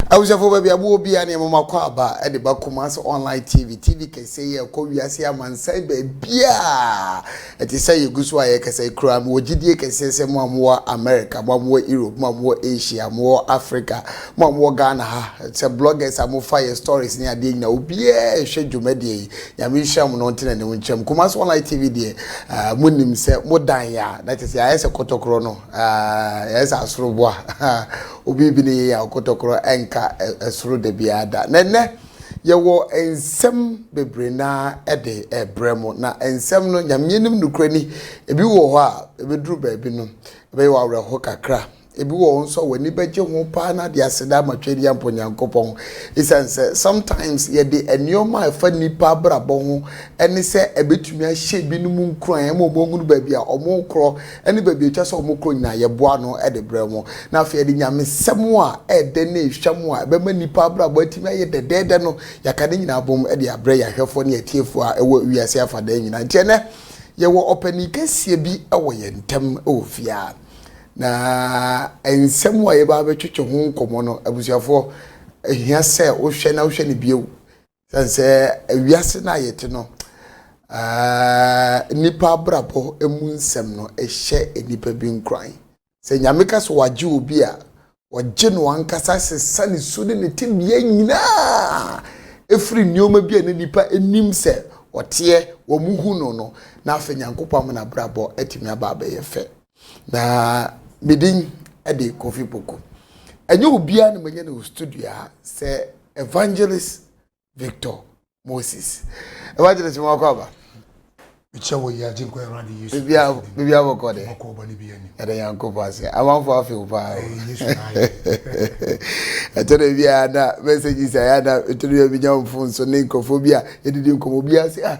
abusuafo baabi aboɔ bia ne ɛmoma kɔ aba ɛde ba Kumasi online tv tv kɛse yɛ ɛkɔ wiase amansan baabiaa Ɛte sɛ yegu so a yɛrekasa yi koraa, mewɔ gyidie kɛseɛ sɛ mo a mowɔ America, mo a mowɔ Europe, mo a mowɔ Asia, mowɔ Africa, mo a mowɔ Ghana ha, sɛ bloggers a mofa yɛ stories ne adeɛ nyinaa, obiara rehwɛ dwumadie yi. Nyame nhyira mo na ɔnte n'anim nkyerɛ mo. Kumasi Online TV deɛ, ah, monim sɛ modan yɛ a, na kyerɛ sɛ yɛayɛ sɛ kɔtɔkorɔ no, ah, yɛayɛ sɛ asoroboa. Obi bi ne yɛyɛ a, ɔkɔtɔkorɔ ɛnka ɛsoro da biara da. Na ɛnnɛ, Yɛwɔ nsɛm bebree no ara de rebrɛ mo, na nsɛm no, Nyame anim nokorɛ ni, ebi wɔ hɔ a, ɛbɛduru baabi no, ɛbɛyɛ wo awerɛho kakra. Ebi wɔ hɔ nso a, w'ani bɛgye ho paa na de aseda ama Tweaduampɔ Nyankopɔn. Esiane sɛ, sometimes yɛde nneɛma a ɛfa nnipa abrabɔ ho ne sɛ ɛbɛtumi ahyɛ ebinom nkuran ma wɔahunu baabi a wɔrekorɔ, ne baabi a ɛtwa sɛ wɔkɔ nyinaa, yɛboa ano de brɛ wɔn. Na afei yɛde nyamesɛm a ɛyɛ dɛ ne ehwam a ɛbɛma nnipa abrabɔ atumi ayɛ dɛdɛɛdɛ no, yɛaka ne nyinaa abom de abrɛ yɛn ahwɛfoɔ ne atiefoɔ a ɛwɔ wiase afanan nyinaa. Enti ɛnnɛ, yɛwɔ ɔpanin kɛseɛ bi wɔ yɛn ntam wɔ fie ha. Na nsɛm a yɛbɛba abɛtwetwe ho nkɔmmɔ no, abusuafoɔ, ɛhia sɛ wohwɛ na wohwɛ no bio. Sɛn sɛ wiase no a yɛte no, nnipa abrabɔ mu nsɛm no hyɛ nnipa bi nkuran. Sɛ Nyame ka sɛ wagye obi a, ɔgye no ankasa sesa ne su ne ne tebea nyinaa ɛfiri nneɛma bi a na nnipa nim sɛ ɔteɛ, wɔn hu no no, na afei Nyankopɔn ama n'abrabɔ atumi aba abɛyɛ fɛ. na me din de kofi poko ɛnyɛ obiara na manya no studio a sɛ evangelist victor moses evangelist mo akɔ aba mekyɛ wɔ yi agye nkwa awurade yesu biribi abɔkɔ dɛ ɛdɛ nyankopɔ ase amanfo afew paa ɛtɔ dɛ biara na mɛsɛ gyi sɛ ayɛ na ɛtɔ dɛ biara menya mfo nso ne nkurɔfoɔ bi a yɛdidi nkɔmmɔ biara sɛ ah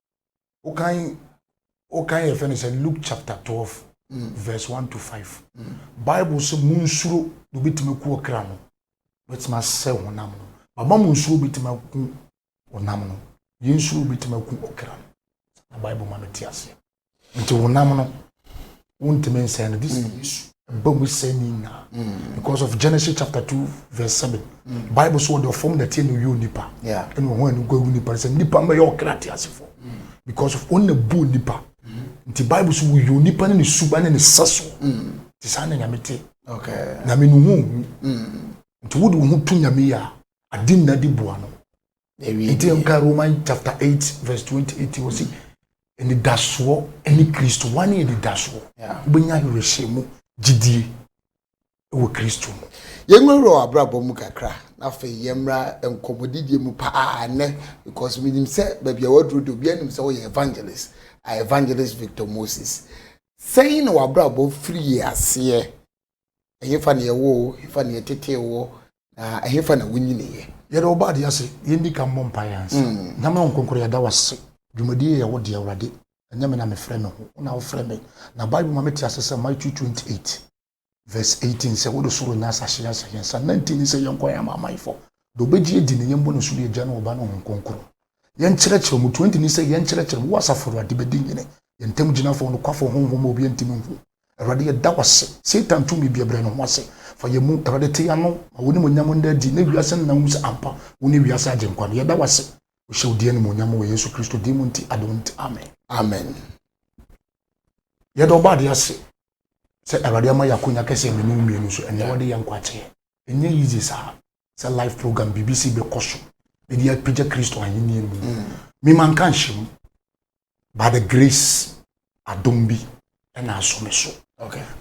wokan wokan yɛfrɛ no sɛ luke chapter 12 mm. verse 1 to 5 mm. bible sɛ monsuro na obɛtumi ku ɔkra no obɛtumi asɛ honam no bama monsuro obɛtumi aku honam no yɛnsuro obɛtumi aku ɔkra no na bible ma no te aseɛ nti honam no wontumi nsɛe no this mm. yesu ɛba mu sɛ ne nyinaa mm. because of genesis chapter two verse seven mm. bible so wɔde ɔfam na tie na oyi onipa ɛna ɔho ɛno gua gu nipa sɛ nipa mbɛyɛ ɔkra te asefo because of ɔna bu nipa nti bible so woyi onipa ne ne suba ne ne sɛ so te saa na nyame te nyame no ho ohu nti wode wo ho to nyame yɛ a ade nna de bua no yɛwie nti nka roman chapter eight verse twenty eight wɔ si anidasoɔ ɛne kristo wɔn ne anidasoɔ wobɛnya awerɛhyɛ mu gyidie wɔ kristo mu yɛnwura wɔ abrabɔ mu kakra na afei yɛmmra nkɔmmɔdidie mu paa nnɛ because menim sɛ baabi a waduro de obi anim sɛ woyɛ evangelist a evangelist victor moses sɛn na wabrabɔ firi aseɛ Ɛhefa na yɛwoo wo? Ɛhefa na yɛtetee woɔ? Na ɛhefa na wonyiniiɛ? Yɛda wo baadeɛ ase. Yɛndi kan mmɔ mpaeɛ ansa. Nyame a ɔnkonkoro yɛda wo ase. Dwumadie yi yɛ wo dea Awurade. Ɛnyɛ me na mefrɛ me ho, wo na wofrɛ me. Na Bible ma mete ase sɛ Matthew 28 vs 18 sɛ wode soro nyɛ asase yɛ sɛ yɛn nsa. Na nti ne sɛ yɛnkɔ yɛn amanamanfɔ deɛ ɔbɛgye adi no yɛmbɔ no so ne Agya ne Ɔba ne Honhom Kronkron. Yɛnkyerɛkyerɛ wɔn. 20 ne sɛ yɛnkyerɛkyerɛ wɔn. Wo Asafo Awurade bɛdi hene. Yɛn ntam gyinafɔ, ɔnokwafɔ, Honhom a obiara ntumi nhu. Awurade, yɛda wo ase. Satan tumi biara, brɛ ne ho ase fa yɛn mu. Awurade, te yɛn ano ma w'animuonyam nna adi, na wiase nna nhu sɛ ampa wone wiase Agyenkwa no. Yɛda wo ase. Wohyɛ wo din animuonyam wɔ Yesu Kristo din mu nti, adom nti, amen. Amen. Yɛda wo bɔadeɛ ase sɛ Awurade ama yɛn akonya kɛseɛ me ne wo mmienu so ɛnnɛ. Wode yɛn nkwa akyɛ yɛn. Ɛnyɛ easy saa. sɛ life program biribi si bɛkɔ so ɛde apagya kristo ahenni mu mm. mema nka nhyɛ mu by the grace adom bi ɛna asɔ me so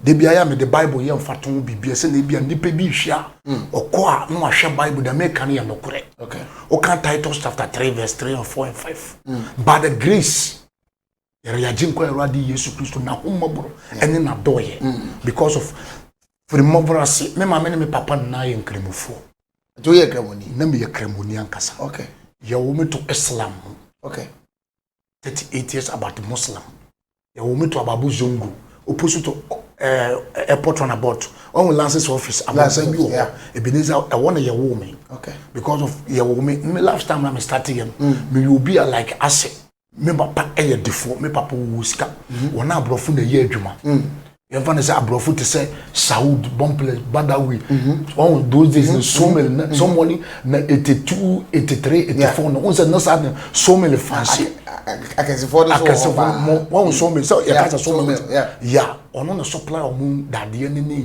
da bi ayɛ a mede bible yɛ mfa to biribia sɛ na ebia nnipa bi hwɛ a mm. ɔkɔ a na wahwɛ bible da meka no yɛ nokorɛ woka titus chapter 3 verse 3 and 4 and 5 mm. by the grace yɛrɛ yagye nkɔ awurade yesu kristo n'ahommɔborɔ ɛne n'adɔɔyɛ mm. because of firi mmɔborɔ ase me maame ne me papa nyinaa yɛ nkramofoɔ nti woyɛ kramoni na meyɛ kramoni ankasa okay. yɛwo me to islam mu okay. 38 years about muslim yɛwo me to ababu zongo opposite to uh, airport on about ɔn lances office amansan bi wɔ hɔ ebenezer ɛwɔ na yɛwo me okay. because of yɛwo me me last time na me start yɛ no mm. meyɛ obi a like asɛ me papa yɛ defoɔ me papa wɔ sika mhm. wɔn aborɔfo na ɛyɛ adwuma mm. yɛmfa no sɛ aborɔfo te sɛ saud bomples badawi mhm. ɔn those days no mhm. somel na sɔmɔni na eighty two eighty three eighty four no wɔn sɛ na saa na somel fansi akɛsefoɔ no so wɔ hɔ mo wɔn somel sɛ yɛka sɛ somel ya ɔno na supply wɔn dadeɛ ne ne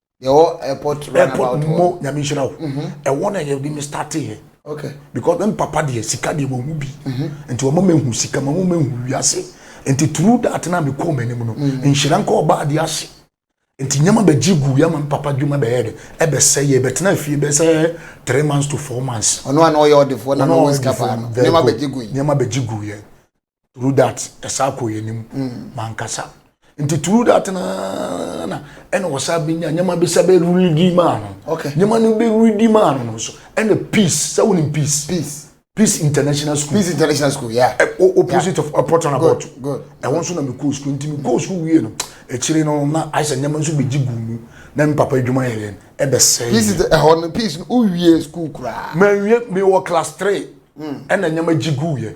yɛwɔ airport airport mo nyame nhyira wo mhm. ɛwɔ na yɛde me starte yɛ okay because me papa deɛ sika deɛ wɔhu bi mhm. nti wɔma mahu sika ma mo mahu wiase nti turu dat na mekɔɔ m'anim no mhm. nhyira nka ɔbaa de ase nti nneɛma bɛgye gu yɛ ma me papa dwuma bɛyɛ de ɛbɛsɛ yɛ bɛtena fie bɛsɛ three months to four months ɔno a na ɔyɛ ɔdefoɔ na na ɔwɔ sika paa no nneɛma bɛgye gu yi nneɛma bɛgye gu yɛ through that ɛsa kɔ yɛn anim mankasa nti through that naa na ɛna ɔsa bi nya nneɛma bi sɛ bɛ redi maa no okay nneɛma no bɛ redi maa no so ɛna peace sɛ wɔn nim peace peace peace international school peace international school yeah ɛ o opposite yeah. of airport and about ɛwɔ nso na mi kóo school nti mi kóo school wie no akyire no na ayɛ sɛ nneɛma nso bɛ gyi gu mu na mi papa adwuma yɛ yɛn ɛbɛ sɛ peace ɛhɔ no peace no o wie school koraa mɛ wie mi wɔ class three ɛna nneɛma gyi gu yɛ.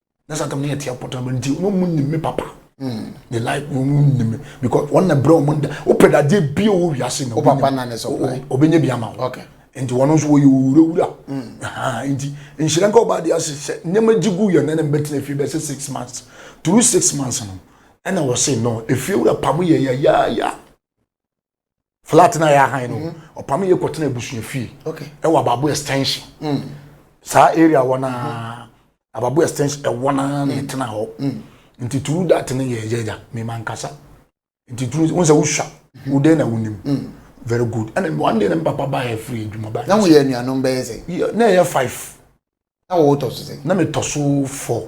na saa tam no yɛ tia pɔtɔ ma nti wɔn mu nim me papa ne life wɔn mu nim me because wɔn na brɛ wɔn da wopɛ dadeɛ bi a wɔwɔ wiase na ɔbɛnya bi ama wo nti wɔn nso wɔyɛ owurawura nti nhyira nka ɔbaa deɛ ase sɛ nneɛma gye gu yɛn na ne mbɛtena fie bɛsɛ six months through six months no ɛna wɔse no efie wura pam yɛ yɛ yɛ yɛ flat na yɛ ahan no mhm. ɔpam yɛ kɔtena abusua fie ɛwɔ ababo extension mm. saa area wɔ na mhm. ababo extension ɛwɔ na na mm. ɛtena hɔ mm. nti turu dat no yɛ yɛgya mema nkasa nti turu wɔn sɛ wosua mhm. wodɛn na wonim very good ɛna one day na mi papa ba yɛ firi adwuma ba na mo yɛ anuanom bɛyɛ sɛ na yɛ five na wɔwɔ tɔ so sɛ na mi tɔ so four.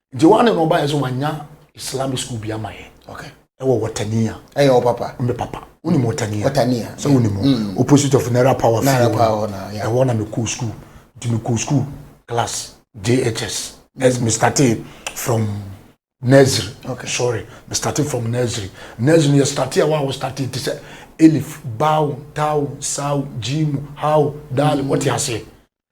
nti wɔn ne na ɔbaeɛ so wanya islamic school bi ama yɛ okay ɛwɔ wɔtania ɛyɛ wɔ papa ɔmɛ papa wonim wɔtania wɔtania sɛ wonim mm. opposite of naira power naira power na ɛwɔ na mekɔɔ school nti mekɔɔ school class jhs as me started from nursery okay sorry me started from nursery nursery yɛ started a wa wɔ started te sɛ elif bawo tawo sawo jimu hawo daali wɔte aseɛ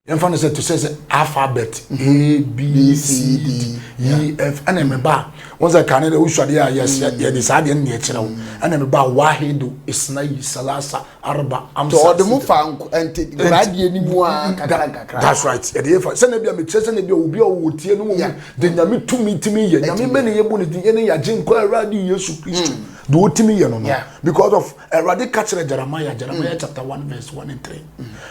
yɛmfa no sɛ to sɛ sɛ alphabet a b c d e f ɛna ɛmɛba a wɔn sɛ kane dɛ wosuadeɛ a mm. yɛde saa deɛ no deɛ kyerɛ wo mm. ɛna ɛmɛba a wahedo isnayi salasa arba amsa sɛ ɔde mo fa nkoradeɛ no mu a kakrankakra that's right ɛde yɛ fa sɛnɛ bi a mekyerɛ sɛnɛ bi a obi a ɔwɔ tie no mu de nyame tumi tumi yɛ nyame mɛ ne yɛbɔ ne din ɛne yɛagye nkɔ awurade yesu kristo mm. de wotumi yɛ no no because of Awurade ka kyerɛ Jeremiah, Jeremiah mm. chapter one verse one and three.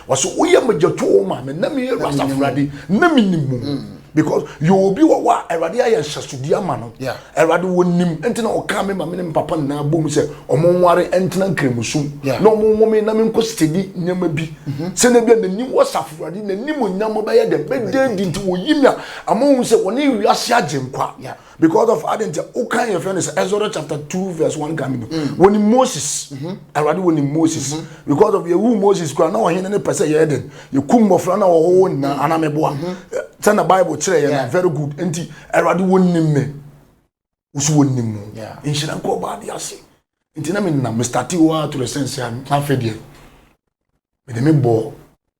Wɔsɛ woyɛ magyatoɔ ma me na meyɛ Awurade Awurade na menim mu. Mm. Because yɛ obi wɔ hɔ a Awurade ayɛ nhyɛsodi ama no. Awurade wɔnim nti na ɔka me ma me ne me papa nyinaa bom sɛ ɔmo nware ntena nkramusum. Na ɔmo nwo me na me nkɔ steady nneɛma bi. Mhm. Sɛ na bi a n'anim wɔ safo Awurade n'anim onyam bɛyɛ dɛm bɛdɛ di nti wɔyi me a ama wɔn sɛ wɔne wiase agye nkwa. because of adi nti o kan yɛn fɛn de sɛ Exodus chapter two verse one kan mi no mm. wɔn ni Moses mm-hmm. awurade wɔn ni Moses mm-hmm. because of yewu Moses kura na ɔhen ne pɛ sɛ yɛyɛ dɛ yekum mmɔfra na wɔwɔ wɔn nyinaa mm-hmm. anamɛboa eh, sɛ na bible kyerɛ yɛn na very good nti awurade wɔn ni mɛ wosi wɔn ni mu nhyira nkɔ ɔbaa de ase nti na mi nam mr tiwa to the sense a n'afɛ deɛ mɛ de mi bɔ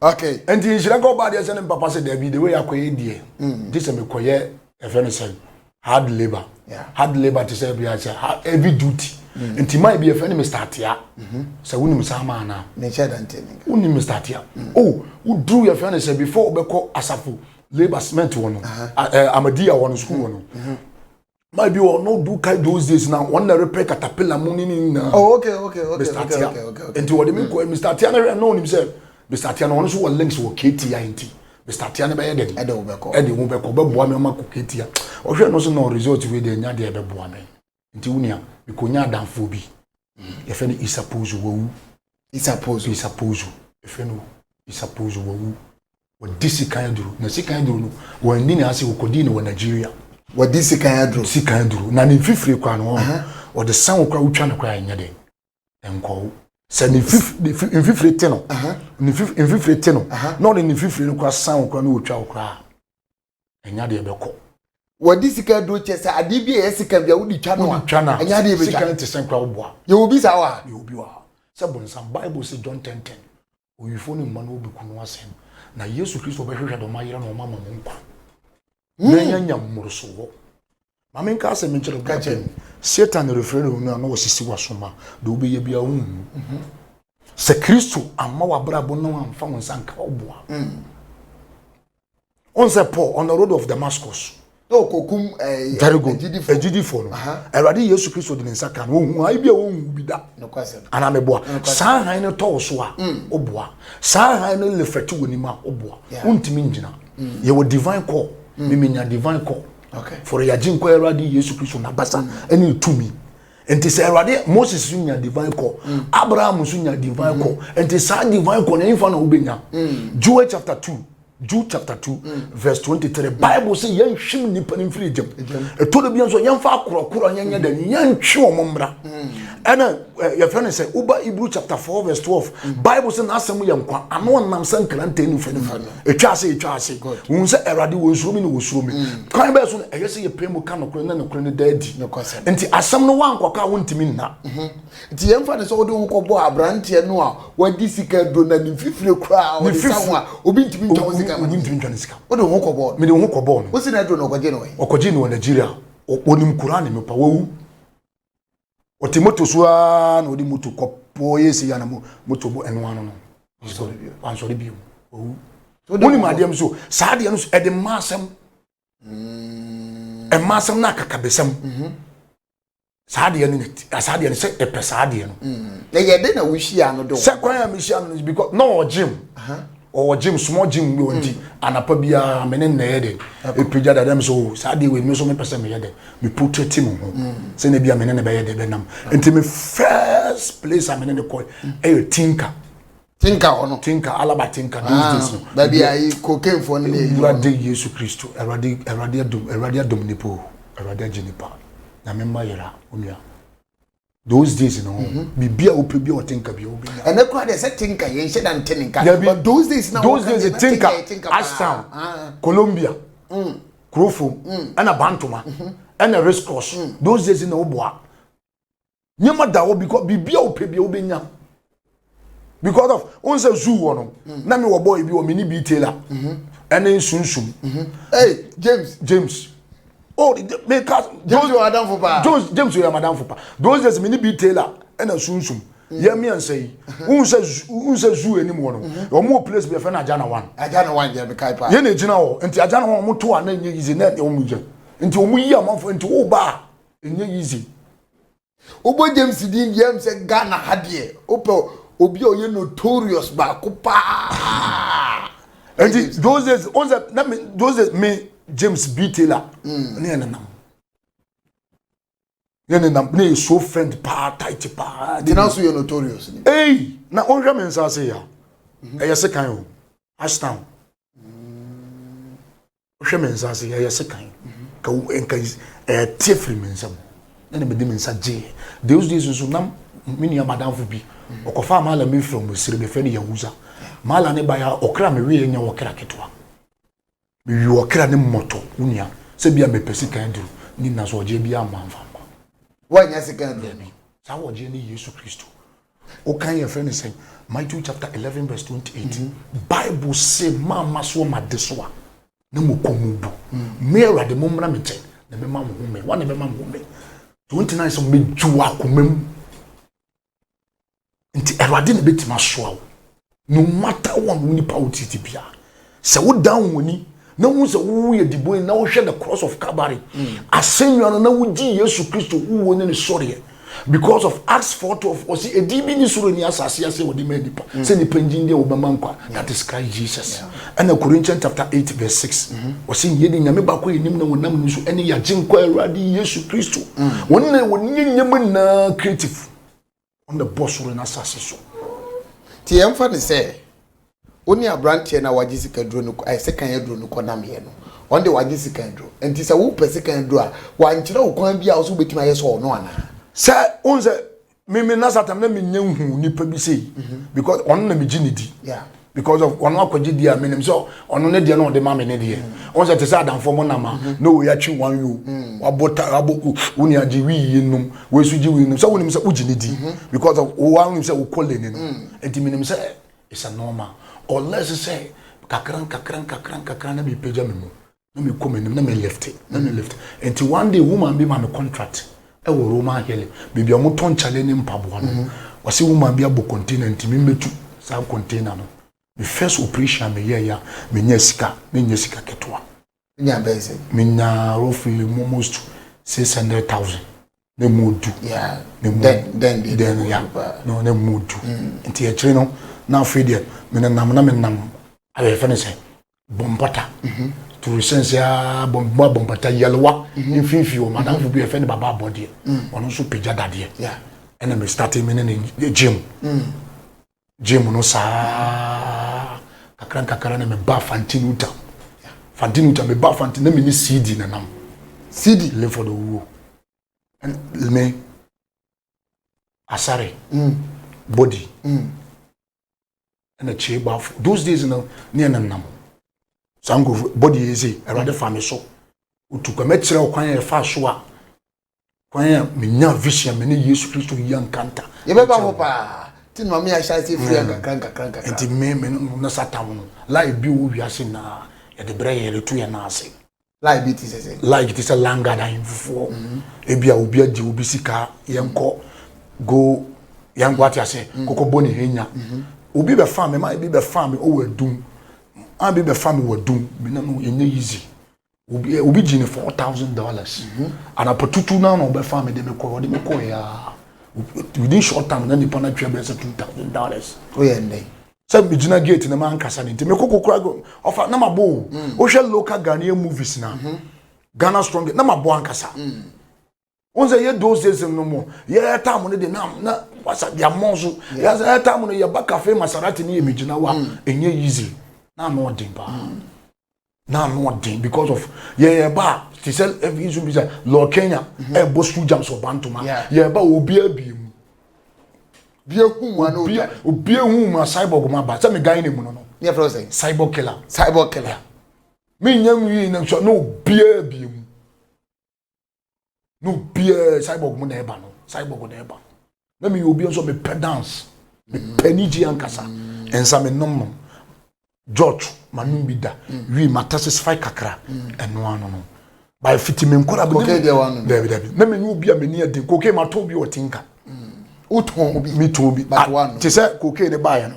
okay nti nhyira kɔ ɔbaa deɛ sɛ ne mpapa sɛ daabi de wei akɔyɛ deɛ mm. gye sɛ mekɔyɛ ɛfɛ no sɛ hard labour hard labour te sɛ bia sɛ heavy duty mm. nti maa bi ɛfɛ ne mr atea mm-hmm. sɛ wonim saa maa no wonim mr atea mm. o oh, woduru yɛfrɛ no sɛ before wobɛkɔ asafo labour cement wɔ no uh-huh. eh, amadiya wɔ no sukuu wɔ no mm-hmm. maa bi wɔ no do kai those days na wɔn na repɛ katapila mu ne ne nyinaa oh, okay, okay, okay, mr atia okay, okay, okay. nti wɔde mi kɔ mr atia no hwɛ na onim sɛ mr atia no wɔn nso wɔ links wɔ kti nti mr atia no bɛyɛ dɛn ɛde wo bɛkɔ ɛde wo bɛkɔ bɛboa mi ɔma kɔ kti a ɔhwɛ no so na result wei deɛ nya deɛ ɛbɛboa mi nti wo nua mekɔnya adanfoɔ bi yɛfrɛ no isapozo wawu isapozo isapozo yɛfrɛ no isapozo wawu wɔde sikan aduro na sikan aduro no wɔanni na ase wɔkɔdii no wɔ nigeria wɔde sikan aduro sikan aduro na ne mfifire kora no wɔde san wo kora wotwa no kora ɛnyɛ den nkɔwo sɛ ne mfifire te no ne mfifire te no na ɔde ne mfifire no kora san wo kora na wɔtwa wo koraa ɛnya deɛ bɛkɔ wɔde sika duro kyɛ sɛ adeɛ bi a ɛyɛ sika bi a wode twa no a ɛnyɛ adeɛ bɛtwa sika no te sɛn kora woboa yɛwɔ bi saa wɔ ha yɛwɔ bi wɔ ha sɛ bonsam bible sɛ john 1010 owifoɔ no mma no wobɛku no asɛm na yesu kristo ɔbɛhwehwɛ dɔm ayera na ɔma ma mo nkwa hmm. na yɛanya mmoroso wɔ Ma menka asɛm nkyerɛ wo ka kyerɛ me satan refrɛfrɛ wo no a na ɔsisi w'aso ma deɛ wobɛyɛ biara wonhu mhm. sɛ kristo amma w'abrabɔ na wamfa wo nsa nka wo boa mm. ɔn sɛ paul on the road of damascus ɔkɔkum eh, very good agyidifoɔ no awurade yesu kristo de ne nsa ka no ɔhu ae bi a ɔnhu bi da anaa meboa saa han no tɔw so a woboa mm. saa han no lefɛte wɔ nim a woboa wontumi ngyina mm. yɛwɔ divine call memenya divine call fɔre yɛagye nkɔ awurade yesu kristo n'abasa ne ne tumi nti sɛ awurade moses so nya divine call mm. abraham so nya divine call mm-hmm. nti saa divine call na ɛmfa na wobɛnya mm. joel chapter two Jude chapter two mm. verse twenty three bible sɛ yɛnhwim nnipa no mfiri gyam ɛtɔ da bia nso yɛmfa akorɔkorɔ nyɛnyɛ dɛ ne yɛntwe wɔn mmra ɛna yɛfrɛ no sɛ woba hebrew chapter four verse twelve bible sɛ n'asɛm yɛ nkwa ano ɔnam sɛ nkrantɛ no fɛ no fa ɛtwa ase ɛtwa ase wohu sɛ awurade wɔ nsuro me na wɔsuro me mm. kwan bɛɛ so no ɛyɛ sɛ yɛpɛ mu ka nokorɛ na nokorɛ no daa di nti asɛm no woankɔka a wontumi nna mhm. nti yɛmfa ne sɛ wode wo kɔbɔ aberanteɛ no a wagye sika duro na ne mfifire koraa ɔde sa ho a obi ntumi ntwa wo sika obi ntumi ntwa ne sika wode wo ho kɔbɔɔ no mede wo ho kɔbɔɔ no wosi na aduro no ɔkɔgye no ɔkɔgye no wɔ nigeria wɔnim koraa ne mepa wawu ɔte moto so aa na ɔde moto kɔ pɔɔ yɛ si ya na moto bɔ ɛno ano no wansɔre bio ɔwu wonim adeɛ m so saa adeɛ no so ɛde mma asɛm mm. ɛma asɛm no akakabɛsɛm mhm. saa adeɛ no saa adeɛ no sɛ ɛpɛ saa adeɛ no mm. na yɛde na wohyia no do sɛ kwan a mehyia no no because na ɔgyem Ɔwɔ gym small gym bi ɔnti mm. anapa biara me ne nnɛ yɛ dɛn ɛpagya dada me sɛ o saa deɛ wei me nso mepɛ sɛ meyɛ dɛn me protect me ho mm. sɛ na bia me ne ne bɛyɛ dɛn bɛnam nti me first place a me ne ne kɔ mm. ɛyɛ tinka tinka hɔ no tinka alaba tinka those ah, days no baabi a yi cocaine fɔ ne yɛ awurade yesu kristo awurade awurade adum awurade adum nipa o awurade agye nipa nyame mma yɛra onua those days no mhm. biribi a wopɛ bi a ɔte nka bi a wobɛnya ɛnɛ koraa deɛ sɛ te nka yɛnhyɛ da nte ne nka but those days na those days te nka ashtown ah. colombia mm. kurofom mm. ɛna bantoma mhm. ɛna race cross mm. those days na woboa nneɛma da hɔ because biribi a wopɛ bi a wobɛnya because of n sɛ zoo wɔ no mm. na mi wɔ bɔɔl bi wɔ mi ni bi tailor mhm. ɛne nsunsum. Mhm. ɛy james james oh mi ka james yɛ madam fo paa james james yɛ madam fo paa those days mi ni bi tailor ɛna sunsum mm. yɛ mmiɛnsa yi n sɛ n sɛ zoo anim wɔ no mhm. wɔn wɔ place bi ɛfɛ na ajana one. ajana one yɛ mi ka paa. yɛn na egyina hɔ nti ajana one wɔn to a na enye yize na wɔn mu gyɛ nti wɔn yi amanfo nti wɔn ba a enye yize. Wobɔ James din deɛ ɛm sɛ Ghana ha deɛ wopɛ obi a ɔyɛ notorious baako paa. Nti those days on sɛ na me those days me James B Taylor mm. ne yɛ nenam. Ne nenam ne yɛ so friend paa tight paa. Nti na so yɛ notorious ni. Ee na wɔn hwɛ me nsa ase ya ɛyɛ sekan o Ashtown. wohwɛ me nsa ase yɛyɛ sekan ka nka ɛte firi me nsam na na mede me nsa gyeeɛ those days nso na me nua madamfo bi ɔkɔfaa maala bi firi ɔmo sere bɛfrɛ no yahuza maala ne ba yɛ ɔkra meweɛ nya ɔkra ketewa mewi ɔkra ne mmɔtɔ wo nua sɛ bi a mepɛ sika aduru ne nna so ɔgyeɛ bi a manfa nkɔ woanyɛ sika aduru saa wɔgyeɛ ne yesu kristo Wokan yɛ frɛ no sɛn? Matthew chapter eleven verse twenty eight. Mm -hmm. Bible se mamma soɔ ma de so a na mo kɔn mu bu. Mm. Me awurade mo mmra me nkyɛn na mɛma mo home. Wɔn na mɛma mo home. Twenty nine sɛ mɛgye wɔ akoma mu. Nti awurade na bɛtumi asoa wo. No matter what wo nipa wo treat bia sɛ wo dan wɔn ani na hu sɛ wo yɛ dibɔni na wohwɛ the cross of Calvary mm. asɛnnwa no na wogye Yesu Kristo wuo ne ne sɔreɛ because of Acts 4:12 ɔsi edi bi ni soro ni asase ase wɔde ma nipa mm. sɛ nipa ngyin deɛ wɔbɛma nkwa that is Christ Jesus ɛna yeah. Corinthians chapter eight verse six ɔsi mm-hmm. yɛ de nyame baako yɛ nim na wɔn nam ne so ɛne yagye nkɔ awurade Yesu Kristo mm. wɔn na wɔn nyɛ nyɛma nyinaa creative. ɔna ɛbɔ soro na asase so nti yɛmfa ne sɛ wo ne aberanteɛ na wagye sika duro no ɛ sekan aduro no kɔ nameɛ no ɔn de wagye sekan duro nti sɛ wopɛ sekan duro a wankyerɛ wo kwan bi a wo so wobɛtumi ayɛ sɛ ɔno anaa sɛ wohu sɛ meme na satam na menyɛ nhu nipa bi sei mhm. because ɔno na megye ne di because of ɔno akɔgye di a menim sɛ ɔno ne deɛ na ɔde ma me ne deɛ ɔn sɛ te sɛ adamfoɔ mo nam a mm-hmm. na wei atwe wan yo mm. wabɔ ta abɔ wo nua gye wii yi nom wei so gye wii nom sɛ wonim sɛ wogye ne di mm-hmm. because of wo wonim sɛ wokɔ lane no mm. nti menim sɛ it's a normal unless sɛ kakra nkakra nkakra nkakra na mepagya me mu na me kɔ m'anim na me lift na me lift nti one day woman bi ma me contract ɛwɔ roman hill baabi a wɔtɔ nkyale ne mpaboa no mhm. wɔsi woman bi abɔ container nti me mbetu saa container no me first operation me yɛ ya me nya sika me nya sika ketewa nya bɛn sɛ me nya roughly almost six hundred thousand ne mu du ne mu den ya no ne mu du mm. nti akyire no na afei deɛ me nenam na me nam ayɛ fɛ ne sɛ bɔ mpɔta toro sɛnsɛ aa bɔ mu abɔ mpɔta yɛlewa mm-hmm. mfimfini wɔn madamfo mm-hmm. bi ɛfɛ ne baba abɔdeɛ mm. ɔno nso pagya dadeɛ ɛna mɛ starting mi ne ne gym mm. gym no saa kakra nkakra na mɛ ba fanti no tam fanti no tam mɛ ba fanti na mɛ ne cd na nam cd lefo do wuo mɛ asare mm. body. Mm. ɛna kyie bafo those days no ne ɛna nam saa nkurɔfo bɔde yɛ eze awurade fa me so otu kwa mɛkyerɛ ɔkwan a ɛfa so a kwan a menya vision me ne yesu kristo yi ankanta yɛbɛba hɔ paa ti na maame ahyɛ ase firi nkakra nkakra nkakra nti me me no na satan no lie bi wɔ wiase na yɛde brɛ yɛn yɛde to yɛn nan ase Like bi te sɛ sɛ. Like te sɛ langard ahemfofoɔ mhm. ebi a obi agye obi sika yɛnkɔ go yɛnkɔ ate ase mhm. kɔkɔ bɔ ne henya mhm. obi bɛ fa mi maa ebi bɛ fa mi ɔwɔ adum maa ebi bɛ fa mi wɔ adum mi na no yɛnyɛ yizi obi eh, obi gye ne four thousand dollars anapa tutu naa na ɔbɛ fa mi de mi kɔ ɔde mi kɔ yaa within short time na nipa na twɛ bɛ sɛ two thousand dollars. o yɛ ndɛ. sɛ megyina gate no mankasa no nti mekɔ kokora ɔfa na mabɔ o mm. wohwɛ local ghanaian movies na mhm. ghana strong na mabɔ ankasa mm. wọn sɛ yɛ those days no mo yɛ tam no de na na wasa yɛ amɔ so yɛ sɛ yɛ tam no yɛ ba cafe maserati ne yɛ megyina wa ɛnyɛ mm. easy na ama ɔden paa. na ano ɔden because of yɛyɛ ba te sɛ ɛfi nso bi sɛ lɔɔ kenya mhm. ɛbɔ school jams wɔ bantoma yɛyɛ ba obi abie mu bi ehu mu ano obi obi ehu mu a cyborg mu aba sɛ mi gan ne mu no no ne yɛ fɛ ɔsɛ cyborg killer cyborg killer mi nya mu yi na sɔ na obi abie mu no biara cyborg mu na ɛba no cyborg na ɛba na meyɛ obi nso mepɛ dance mepɛ anigye ankasa nsa menom nom george manom bi da wi matasesify kakra ɛno ano no by fiti me nkora dabi dabi na menye obi a meni aden koke matɔ bi ɔte nka wotɔn bi metɔn bi te sɛ koke ne baeɛ no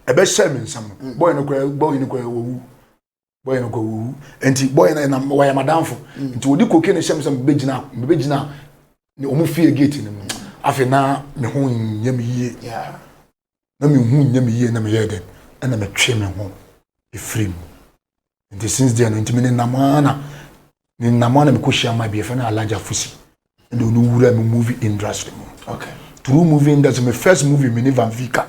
ɛbɛhyɛ me nsam no bɔyɛ no koraa bɔyɛ no koraa wawu bɔyɛ no kɔwuwu nti bɔyɛ no ɛna wɔyɛ madamfo mm. nti wɔde koke no hyɛm sɛ mebɛgyina mebɛgyina wɔn fie gate no mu afei na me ho nyɛ me yie na me ho nyɛ me yie na me yɛ dɛ ɛna me twe me ho efiri mu nti since deɛ no nti me ne nam ara na ne nam ara na me kɔ hyia ma bi efɛ na alaja fusi ɛna ɔno wura me movie industry mu okay through movie industry my first movie me ne van vika.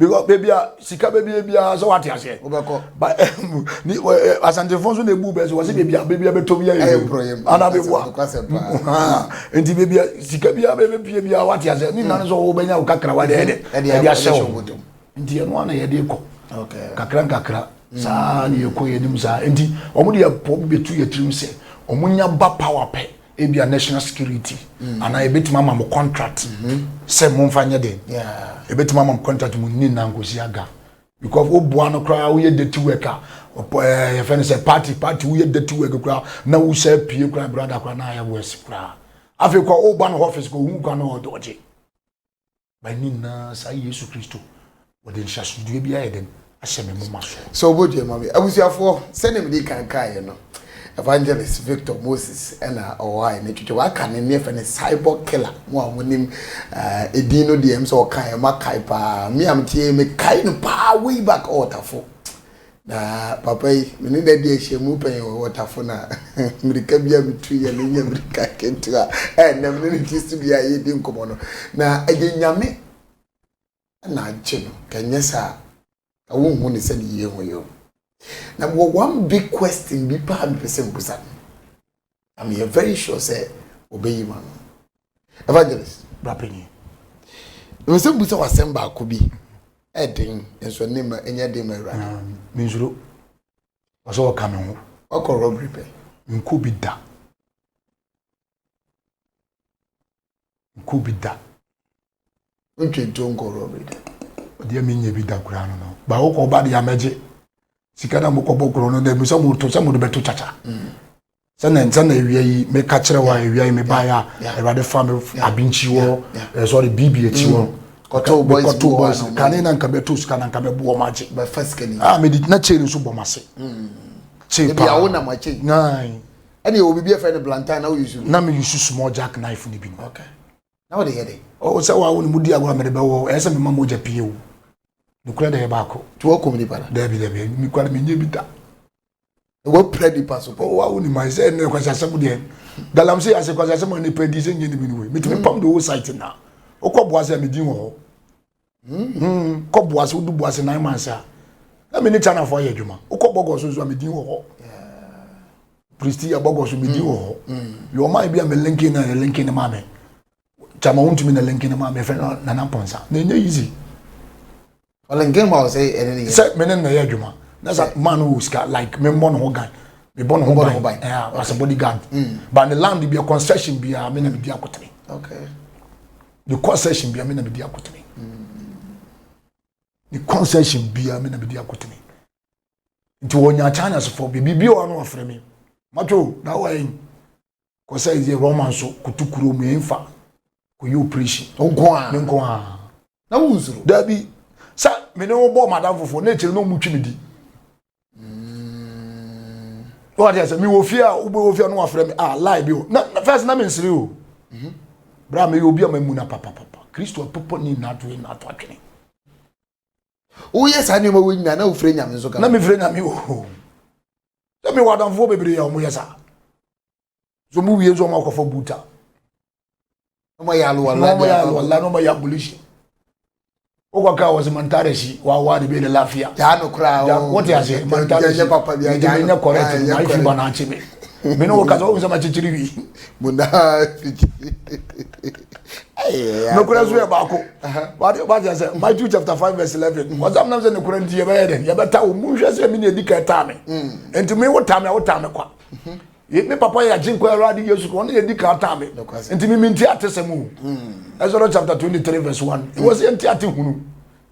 because baabi a sika baabi a biara sɛ wate aseɛ wobɛkɔ ba ɛmu ni ɛ asantefo nso na ebu bɛsi wɔsi baabi a baabi a bɛtɔ bi ayɛ ɛyɛ mprɔyɛ mu ana bɛ bua nti baabi a sika bi a bɛ bɛ pie bi a wate aseɛ ne nnan nso wɔn bɛ nya kakra wa deɛ deɛ ɛde ahyɛ wɔn nti ɛno ana yɛde kɔ kakra nkakra saa na yɛ kɔ yɛ nim saa nti wɔn de yɛ pɔ bɛ tu yɛ tirim sɛ wɔn nya ba power pɛ. ebi a national security mm. anaa ebetumi ama mo contract mm-hmm. sɛ mo nfa nyɛ den ebetumi ama mo contract mo nni na nkosi aga because wo boa no koraa woyɛ dirty work a ɛɛ yɛfɛ no sɛ party party woyɛ dirty work koraa na wohyɛ pie koraa brada koraa na ayɛ worse koraa afei kɔ wo ba no office kɔ ohun kwan na ɔde ɔgye ba nyinaa saa yesu kristo wɔde nhyɛsodeɛ bi ayɛ dɛn ahyɛ me moma so sɛ wobɛdwa ma me abusuafoɔ sɛne mede kankaeɛ no evangelist victor moses ɛna ɔwɔ a ɛne twitwa waka ne ne ɛfɛ ne cyborg killer mo a monim ɛdin eh, no deɛ m sɛ ɔkaeɛ makae paa me a meteɛ mekae no paa way back ɔɔtafo Na papa yi, me ne no adi ahyiamu pɛn wɔ Waterfall a mmirika bi a mitu yɛ no nyɛ mmirika nketewa. Ɛnnɛ, me ne no te studio a yedi nkɔmmɔ no, na ɛyɛ Nyame na agye no, ka ɛnyɛ saa a, wonhu no sɛnea yehu yɛn. Na mewɔ one big question bi paa a mepɛ sɛ mibusa no. na meyɛ very sure sɛ wɔbɛyi ma no evangelist brapanyin nsɛm bu sɛ wasɛm baako bi ɛden nso ɛne ma ɛnyɛ den ma awurade ah, mensuro ɔsɛ ɔka me ho ɔkɔ robbery pɛ nkɔ bi da nkɔ bi da. Mentwe nto nkɔ rɔbere da. Ɔdeɛ menyɛ bi da koraa no no. Ba wokɔ ba deɛ amɛgye. Sika na mokɔ bɔ korɔ no na ebi sɛ mo to sɛ mo de bɛto kyakya. Mm. sɛnɛ nsɛnɛ ewia yi me ka kyerɛ wa ewia yi me ba ya awurade fa me abinkyi wɔ eh, sorry bibi ekyi wɔ kɔtɔ boys kɔtɔ boys kane na nka bɛtɔ sika na nka bɛbu wɔn agye bɛfa sika ni ah me di na chain nso bɔ ma se mm. chain paa ebi awo na ma chain naayi. ɛna yɛwɔ biribi ɛfɛ no blantyre na woyusu no. na me yusu small jack knife no bi no. okay na wode yɛ dɛ. ɔwɔ sɛ wawo no mu di agorɔ a mede bɛwɔ ɛyɛ sɛ mema mogya pii o nokorɛ dɛ yɛ baako. ti wɔkum nipa da. daabi daabi mekwale menyɛ bi da. wɔpira nipa so pɔ. wawo ni ma sɛ ɛnɛ kwasi asɛm deɛ galamsey ase kwasi asɛm a nipa di sɛ nyɛ ne bi no wei metumi pam de wo site na wokɔ boa sɛ medin wɔ hɔ. kɔ boase wodu boase nine months a na me ne chinafoɔ ayɛ adwuma wokɔ bɔgɔ so nso a medin wɔ hɔ pristi yɛ bɔgɔ so medin wɔ hɔ yɛ ɔma bi a me linkin na ne linkin ne maa me kyama wontumi na linkin ne maa me fɛ no nana pɔnsa na ɛnyɛ easy ɔlinkin ma wo sɛ ɛne ne yɛ sɛ me ne na yɛ adwuma na sɛ maa no wɔ sika like me mmɔ ne ho gan me bɔ ne ho ban as a bodyguard mm. but ne land bia concession bia me na medi akotene okay mekɔ session bia me na medi akotene mekɔ session bia me na medi akotene nti wɔnya channels fo biribi wɔ no wɔfrɛ me matwo na wɔyɛ kɔ sɛ yɛ roman so koto kuro mu ɛmfa kɔyɛ operation nko a me nko a na wo nsoro daabi sɛ me ne wo bɔ madam fofoɔ na akyiri na ɔmutwi me di wọ́n ti sẹ́ mi wò fi a wọ́n bẹ́ wò fi a wọ́n wà fẹ́rẹ́ mi ah láì bi o na fẹ́ẹ́sì náà mi nsiri o bra mi yẹ obi a ma mu na papapapa kristu apapa ni na ato na ato atwene. woyɛ saa nneɛma wɔ nyinaa na wofrɛ nyame nso ka na mefrɛ nyame o na mewɔ adamfoɔ bebree a wɔyɛ saa so mu wie nso ɔmo akɔfa buta ɔmo yɛ aluwala ɔmo yɛ aluwala na ɔmo yɛ abolition wokɔ kaa wɔ sɛ mantare si wawa de bɛ de lafiya yaa no kora wote aseɛ mantare si nti menyɛ correct no ma ifi ba na akye me me ne wo kasa wohu sɛ makyekyere wi nokora so yɛ baako wate sɛ matthew chapter 5 verse 11 ɔsam nam sɛ nokora nti yɛbɛyɛ dɛn yɛbɛta wo monhwɛ sɛ me ne ɛdi ka ɛtaa me nti me wotaa me a wotaa me kwa Ye, me papa yɛ Agyenkwa Awurade Yesu Kristo, ɔno yɛ di kan taa me. Nti me me nti ate sɛm o. Hmm. Exodus chapter twenty three verse one. Hmm. Wɔ sɛ nti ate hunu.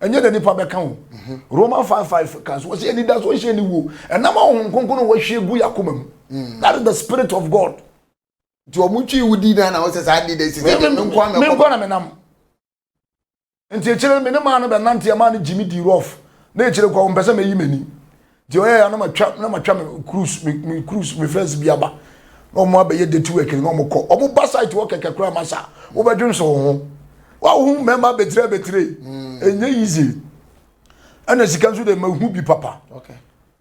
Ɛnyɛ na nipa bɛka o. Hmm. Roman five five kan so wɔ sɛ anida so nhyɛ ni wo. Ɛnam ahohom kronkron wɔ ahwie gu yakoma mu. That is the spirit of God. Nti wɔn twi wudi na na wɔsɛ saa adi de sisi. Me nkwa na me nam. nti ekyir no me ne maa no bɛnantse a maa no gye me dii rough na ekyir no kɔ ɔmpɛ sɛ meyi m'enyim nti ɔyɛ a na matwa na matwa me cruise me me cruise me friends bi aba na wɔn abɛyɛ dirty work na wɔn kɔ wɔn ba site wɔ kɛkɛ koraa ma sa wɔbɛdwen so wɔn ho wɔahu mmarima abetire abetire mm. enye easy ɛna sika nso de ma ehu bi papa. Okay.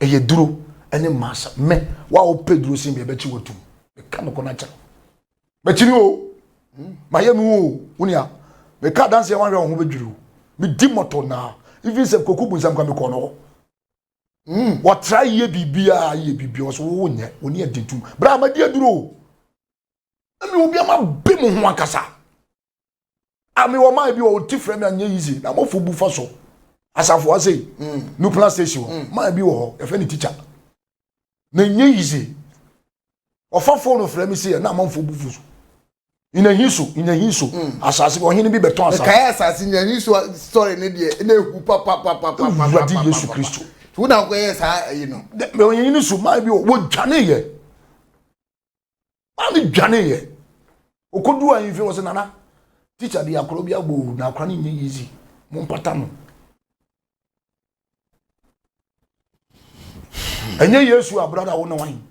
ɛyɛ duro ɛne masa mɛ wa wo pɛ duro sin deɛ bɛkyi wɔ tum ɛka no kɔ na kyerɛ bɛkyiri o hmm. ma yɛ nu o wunia meka adanseɛ wanhwɛ wo ho bɛdwiri o medi mɔtɔ naa even sɛ koku bu nsɛm ka mekɔ no hɔ Mm, wɔtra yie biribiara yie biribiara wɔsɛ wɔwɔ nyɛ wɔn ni ɛdi tum bere a ma di aduro ɛmi obi ama bi mu ho ankasa ami wɔ maa bi wɔ ɔti fira mi anyɛ yizi na mo fo bu fa so asafo wa sei mm. new plan station hɔ mm. maa bi wɔ hɔ yɛfɛ ne tikya na nyɛ yizi ɔfa fone fira mi sei na amanfo bu fo so nyahinso nyahinso mm. asase bi ɔhene bi bɛtɔn asase. kae asase nyahinso sɔre ne deɛ na ehu papapapapa. wurade yesu kristo. tí wọn náà kọ yẹ saa ẹyin no. mẹ ọyẹyin ni so maa bi wọ wọ dwane yẹ maa me dwane yɛ okodu ahemfie wɔ sɛ nana teacher de akora bi abɔ owu na akora no nyɛ easy mo mpata no ɛnyɛ yesu a brada wo ne wan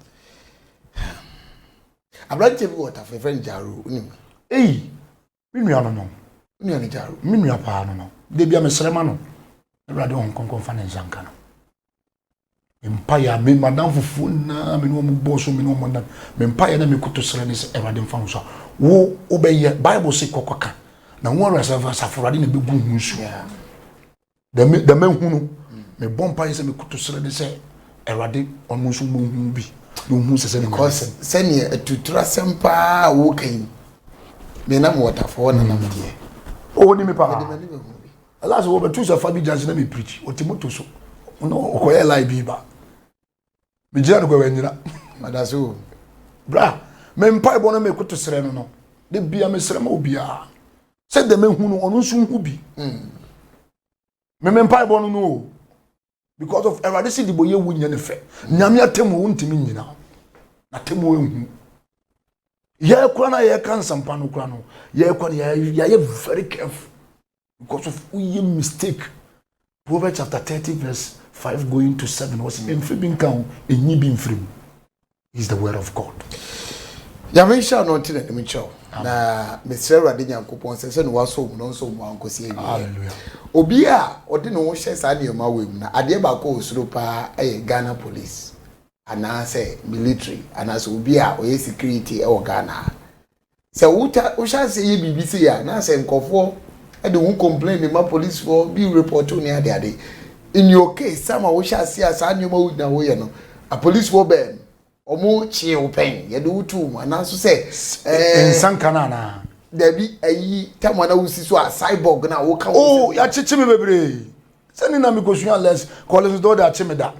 aberanteɛ bi wɔ tafrɛfrɛ no gyaro wonim eyi Me nua no no, me nua no gya, me nua paa no no, da bia mesrɛ ma no, Awurade Honhom Kronkron mfa ne nsa nka no. Mpaeɛ a me madamfofoɔ nyinaa me ne wɔn bɔɔ so me ne wɔn nam me mpaeɛ na mekoto srɛ ne sɛ Awurade mfa ho so a wo wobɛyɛ Bible se kɔkɔ ka na wo Awurade asafo Awurade na ɛbɛgu ho nsuaa. dɛm dɛm ehu no mebɔ mpa yɛ sɛ mekoto srɛ ne sɛ awurade ɔno nso mu hu bi na ohu sɛ sɛ because sɛnea atutura asɛm paa a woka yi me nam wɔtafoɔ na nam deɛ ɔni me paa ɛla sɛ wɔbɛtu sɛ fa bi gyase na me preach ɔte moto so ɔkɔyɛ lai bi ba megyina no kwawa nyina madase o bra me mpaebɔ no mekoto serɛ no no de bia mesrɛ ma obiaa sɛ dɛ mehu no ɔno nso hu bi hmm. me me mpaebɔ no no o because of awurade si dibɔ yɛ wo nyɛ ne fɛ nyame atɛmu wo ntumi nyina na tɛmu ehu yɛkora no a yɛka nsɛmpa no kora no yɛkɔ no yɛayɛ very careful because of woyɛ mistake proverbs chapter thirty verse five going to seven wɔsi mfiri bi nka ho enyi bi mfiri mu is the word of god. nyame nhyɛ ano nti na anim nkyɛw na mesrɛ awurade nyankopɔn sɛ sɛ ne wasɔ mu no nso mu ankɔsi awie obi a ɔde ne ho hyɛ saa nneɛma wei mu na adeɛ baako wɔ suro paa ɛyɛ ghana police anaasɛ military anaasɛ obi a ɔyɛ security ɛwɔ ghana Sɛ wota wohyɛ aseɛ yɛ biribi sei a na sɛ nkurɔfoɔ de wo complain ma polisifoɔ bi report wo ne ade ade in your case saa ma wohyɛ aseɛ a saa nneɛma wo nyinaa woyɛ no apolisifoɔ bɛn wɔn kyee wo pɛn yɛde wo too mu anaa nso sɛ ɛɛ nsanka no anaa dabi ayi tam a na wosi so a cyborg no a woka wo oh yɛakyekye me bebree sɛne na mekɔsua les kɔle so dɛ wɔde akye me da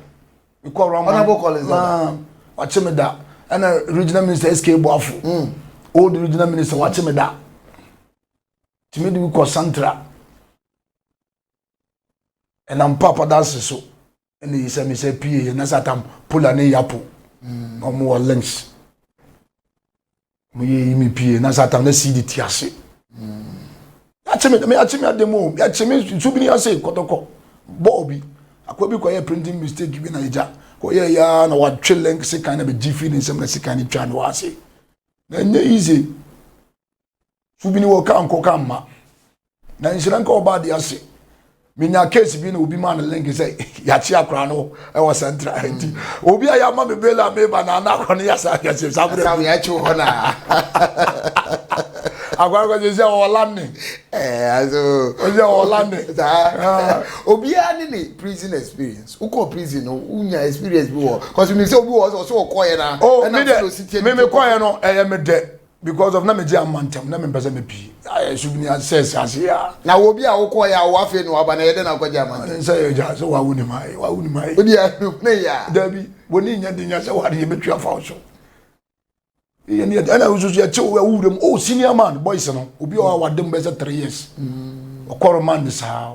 mekɔ rɔma honorable collins dada wakye me da ɛna regional minister sk boafo mm. old regional minister wakye me da tumi de bi kɔ santra ɛnam papa danse so ɛna yi sɛ mesɛ pie yɛ na sɛ atam pola ne yapo mm. na ɔmo wɔ links mo yɛ yi mi pie na satan na sii de ti ase yɛakye me me yɛakye me adeɛ mu o yɛakye me nsu bi ne ase kɔtɔkɔ bɔɔl bi akɔ bi kɔyɛ printing mistake bi na ɛgya kɔyɛ ya na watwe link sekan na bɛgye firi ne nsɛm na sekan ne twa ne wɔ ase na ɛnyɛ easy su bi ne wɔ ka nkɔ ka mma na nhyira nka ɔba ade ase menya case bi na obi ma no link sɛ yɛakye akora no ɛwɔ central mm. nti obi a yɛama me bela meba na ana akora no yɛsa yɛse sa berɛ yɛakye hɔ no akora no kɔsɛ sɛ ɔlande ɔsɛ ɔlande obiara ne ne prison experience wokɔ prison no wonya experience bi wɔ kɔsɛ mi sɛ obi wɔ sɛ ɔsɛ ɔkɔɛ na ɛna sɛ ɔsi tiɛ no mekɔɛ no ɛyɛ me dɛ because of na megye ama ntɛm na mempɛ sɛ mepii ayɛ so bini ase sɛ ase a na wɔ bi a wokɔɔ yɛ a wo afei na waba na yɛdɛ na akɔgye ama ntɛm sɛ yɛgya sɛ wawo ne ma wawo ne ma yi wodi ahwɛ ne yɛ a dabi wɔ ne nya de nya sɛ wade yɛbɛtwi afa wo so yɛ ne yɛda na wosusu yɛkye wo wo wuram oh senior man boys no obi a ɔwa wade mu bɛsɛ 3 years ɔkɔrɔ man ne saa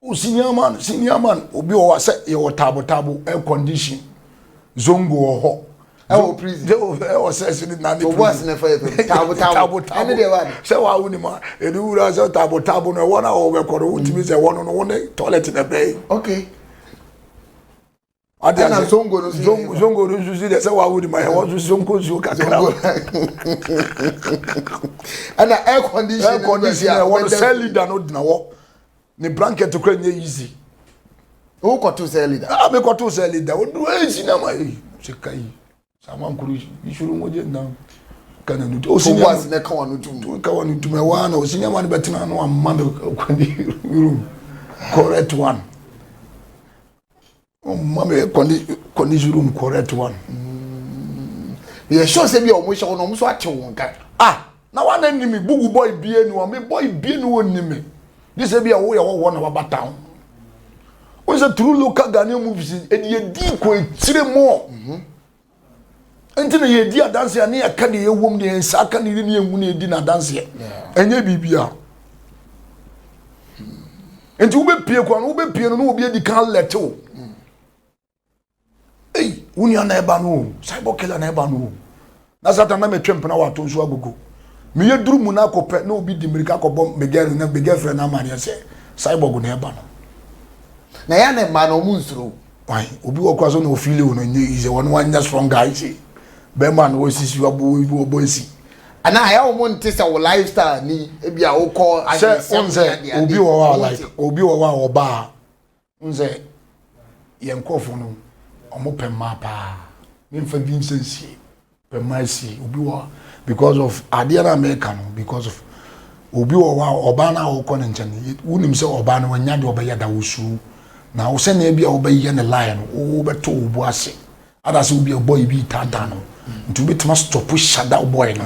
O senior man, senior man, obi wɔ hɔ sɛ yɛwɔ taabo taabo air condition zongo wɔ hɔ. Ɛwɔ prison. Ɛwɔ sɛ ɛsɛ ne nane prison. Ɔbɔ ase na ɛfa yɛ pɛm. Taabo taabo. Ɛne deɛ wa de. Sɛ wa wo ni ma ɛni wura sɛ taabo taabo no ɛwɔ na ɔwɔ bɛ kɔrɔ wo timi sɛ ɛwɔ no no wo ne toilet na bɛyi. Okay. ɔde ase ɛna zongo no nso yɛ zongo no nso si de sɛ wawo de ma yɛ wɔn nso zongo nsuo kakra o ɛna air condition air condition yɛ wɔn sɛ leader no gyina hɔ ne blanket kura nye easy. o kɔto sɛ leader. a ah, mi kɔto sɛ leader o duro easy na ma yi sika yi. Samankwuru isoro nwogye nna ka na nutu. Osi nneɛma Boaz na ɛka wɔn ano tum. ka wɔn tum ɛwɔ ano osi nneɛma no bɛtena ano ama no kwan ne room correct one. Ɔma me kɔ ne kɔ ne room correct one. Yɛ sure sɛ bi a wɔn hyɛ wɔn na wɔn nso atew wɔn ka. Ah. Na wa na ni me bugu bɔ ibie ni wa me bɔ ibie ni wo ni me gye sɛ bi a wo yɛ hɔhoɔ na waba town wo sɛ through local Ghanaian movies ɛdi yɛ di kɔ akyire mu mhm. nti na yɛ di adanse a ne yɛ ka deɛ yɛ wɔm deɛ nsa aka ne yɛ ne yɛ hu ne yɛ di na adanseɛ ɛnyɛ biribiara nti wobɛpie kora no wobɛpie no na obi adi kan lɛte wo ei wo nua na ɛba no o cyber killer na ɛba no o na satan na metwe mpena wato nso agogo meyɛ duru mu no akɔpɛ na obi di mmirika akɔbɔ me girl na me girl frɛ no amaneɛ sɛ cyborg na ɛba no na yɛ na mmaa no ɔmo nsuro wan obi wɔ kora so na ofili o no nyɛ yi sɛ wɔn wanyɛ strong guy sɛ bɛrima na wɔsisi wɔbɔ wɔbɔ esi ana ayɛ wɔn nte sɛ wɔ lifestyle ni ebi a wokɔ ayɛ sɛ wɔn sɛ obi wɔ hɔ a like obi wɔ hɔ a ɔbaa Wohu sɛ yɛn nkurɔfoɔ no, wɔn pɛ mmaa paa. Memfa bi nsɛ nsie, pɛ mmaa sie. Obi wɔ because of adeɛ no a meka no because of obi wɔ hɔ a ɔbaa no a wokɔ ne nkyɛn no, wonim sɛ ɔbaa no wanya deɛ ɔbɛyɛ da wosuro. Na wo sɛnea bi a wobɛyɛ ne lie no, wobɛto wo bo ase. anaasɛ wobi a bɔy bi retaataa no nti wobɛtumi astɔpo hyadaw bɔy no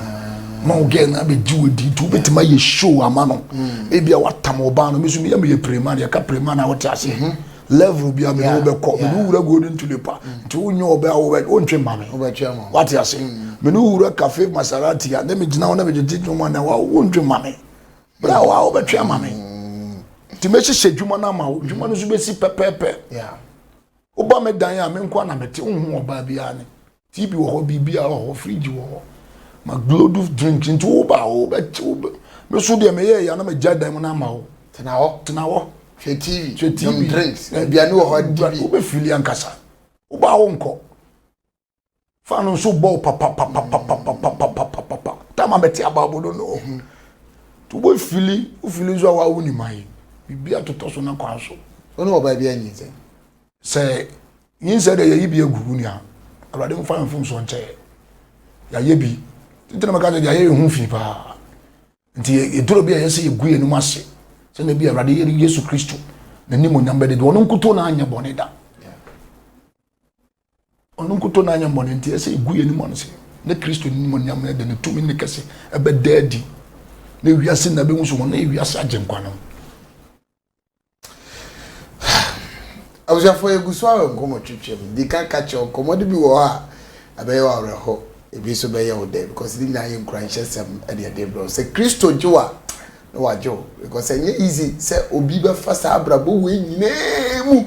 ma wo gɛl no abɛgye wo di nti wobɛtumi ayɛ show ama no mm. ebi a watam ɔbaa no meso meyɛ meyɛ prema no yɛka prema no a wote aseɛ mm-hmm. level bi a mene wobɛkɔ mene wowura golden tulipa mm. nti wonyɛ ɔbɛ a wontwe ma me wate ase mene wowura cafe masarati a ne megyina wo na megyegye dwoma na wontwe ma me berɛ a waa wobɛtwe ama me nti mɛhyehyɛ dwuma no ama wo dwuma no so bɛsi pɛpɛpɛ Woba me dan a, me nko ara na mete, wonhu ɔbaa biara ne. TV wɔ hɔ, biribiara wɔ hɔ, fridge wɔ hɔ. Ma gloduf drinks nti woba a wobɛkye wo bɛ. Me so deɛ meyɛɛ yɛ a na magya dan mu no ama wo. Tena hɔ. Tena hɔ. Hwɛ TV. Hwɛ TV. Nom drinks. Aduane wɔ hɔ, di bi. Wobɛfili ankasa. Woba a wonkɔ. fa no nso bɔ papapapapapapapapapa tam a bɛte abaabo no no to bɔ fili wofili nso a wawo ne man biribi atotɔ so na kwan so ɔne ɔbaa bi anyi nsɛm sɛ nyinsɛ dɛ yɛyi bi agu wo nua awurade mfa mfomsoɔ nkyɛ yɛayɛ bi nti na mɛka sɛ yɛayɛ yɛ ho fi paa nti yɛduro bi a yɛsɛ yɛgu yɛnom ase sɛ na bi awurade yɛne yesu kristo n'anim onyam bɛde bi ɔno nkutoo na anyɛ bɔne da Ɔno nkutoo n'ayɛmmɔne nti, ɛsɛ egu yɛn anim ase na Kristo animuonyam no de ne tumi ne kɛse ɛbɛda adi na wiase na ɛbɛhu sɛ wɔn yɛ wiase agyenkwa no. abusuafoɔ yɛgu so awɔ nkɔmmɔ twitwam di ka ka kyerɛ nkɔmmɔde bi wɔ hɔ a ɛbɛyɛ wɔ awerɛho ebi nso bɛyɛ wo dɛ because ne nyinaa yɛ nkuranhyɛsɛm ɛne ɛde brɛ sɛ kristo gye wa na wagye wo because ɛnyɛ easy sɛ obi bɛfa saa abrabɔ wei nyinaa mu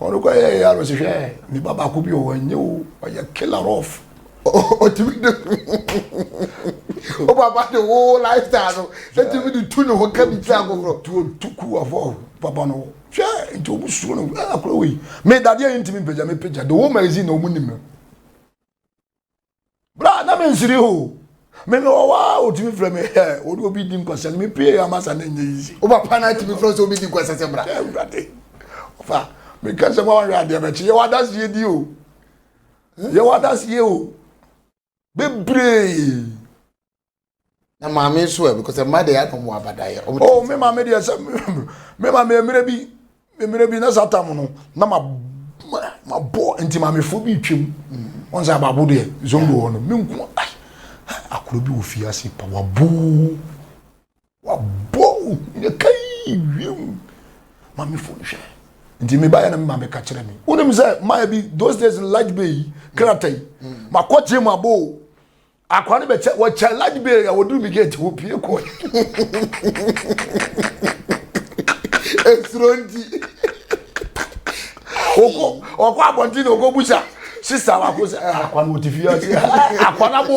Ɔno kɔ yɛ yɛ ano sehwɛ nipa baako bi ɔwɔ nye o ɔyɛ killer off. Ɔtumi de o papa de o lifestyle no ɛtumi de tu ne ho ka bi kyerɛ agokorɔ. Tu tu ku afɔ papa no hwɛ nti ɔmu suro no ɛyɛ akora wei. Me dadeɛ yi ntumi mpagya me pagya de o magazine na ɔmu nim no. Bra na mensiri ho. Me me wɔ hɔ a otumi frɛ me hɛ ɔde obi di nkwasɛm me pie ama sa na nyɛ yizi. Woba pa na atumi frɛ sɛ obi di nkwasɛm sɛ bra. Ɛwurade. Ɔfa me ka sɛ wɔn adeɛ bɛkye yɛ wadaseɛ di o. Yɛ wadaseɛ o. Bebree. na maame nso ɛ because mma deɛ yɛadɔ mu abadaeɛ oh me maame deɛ sɛ me maame mmerɛ bi mmerɛ bi na saa tam no na ma ma bɔ nti maamefoɔ bi twam wɔn sɛ abaabo deɛ zongo hɔ no me nko ai akoro bi wɔ fie ase pa waboo Wabɔ ohia kai wiem mamefo nhwɛ nti me baayɛ na me maame ka kyerɛ me wonim sɛ mayɛ bi those days no large bay yi krata yi makɔ gye mu abɔ o akora no bɛkyɛ wɔkyɛ large bay a wɔduru me gate hɔ pie kɔ ɛsuro nti ɔkɔ abɔnten na ɔkɔ busa sista wako sɛ akwa no wɔte fie ase akwa no abɔ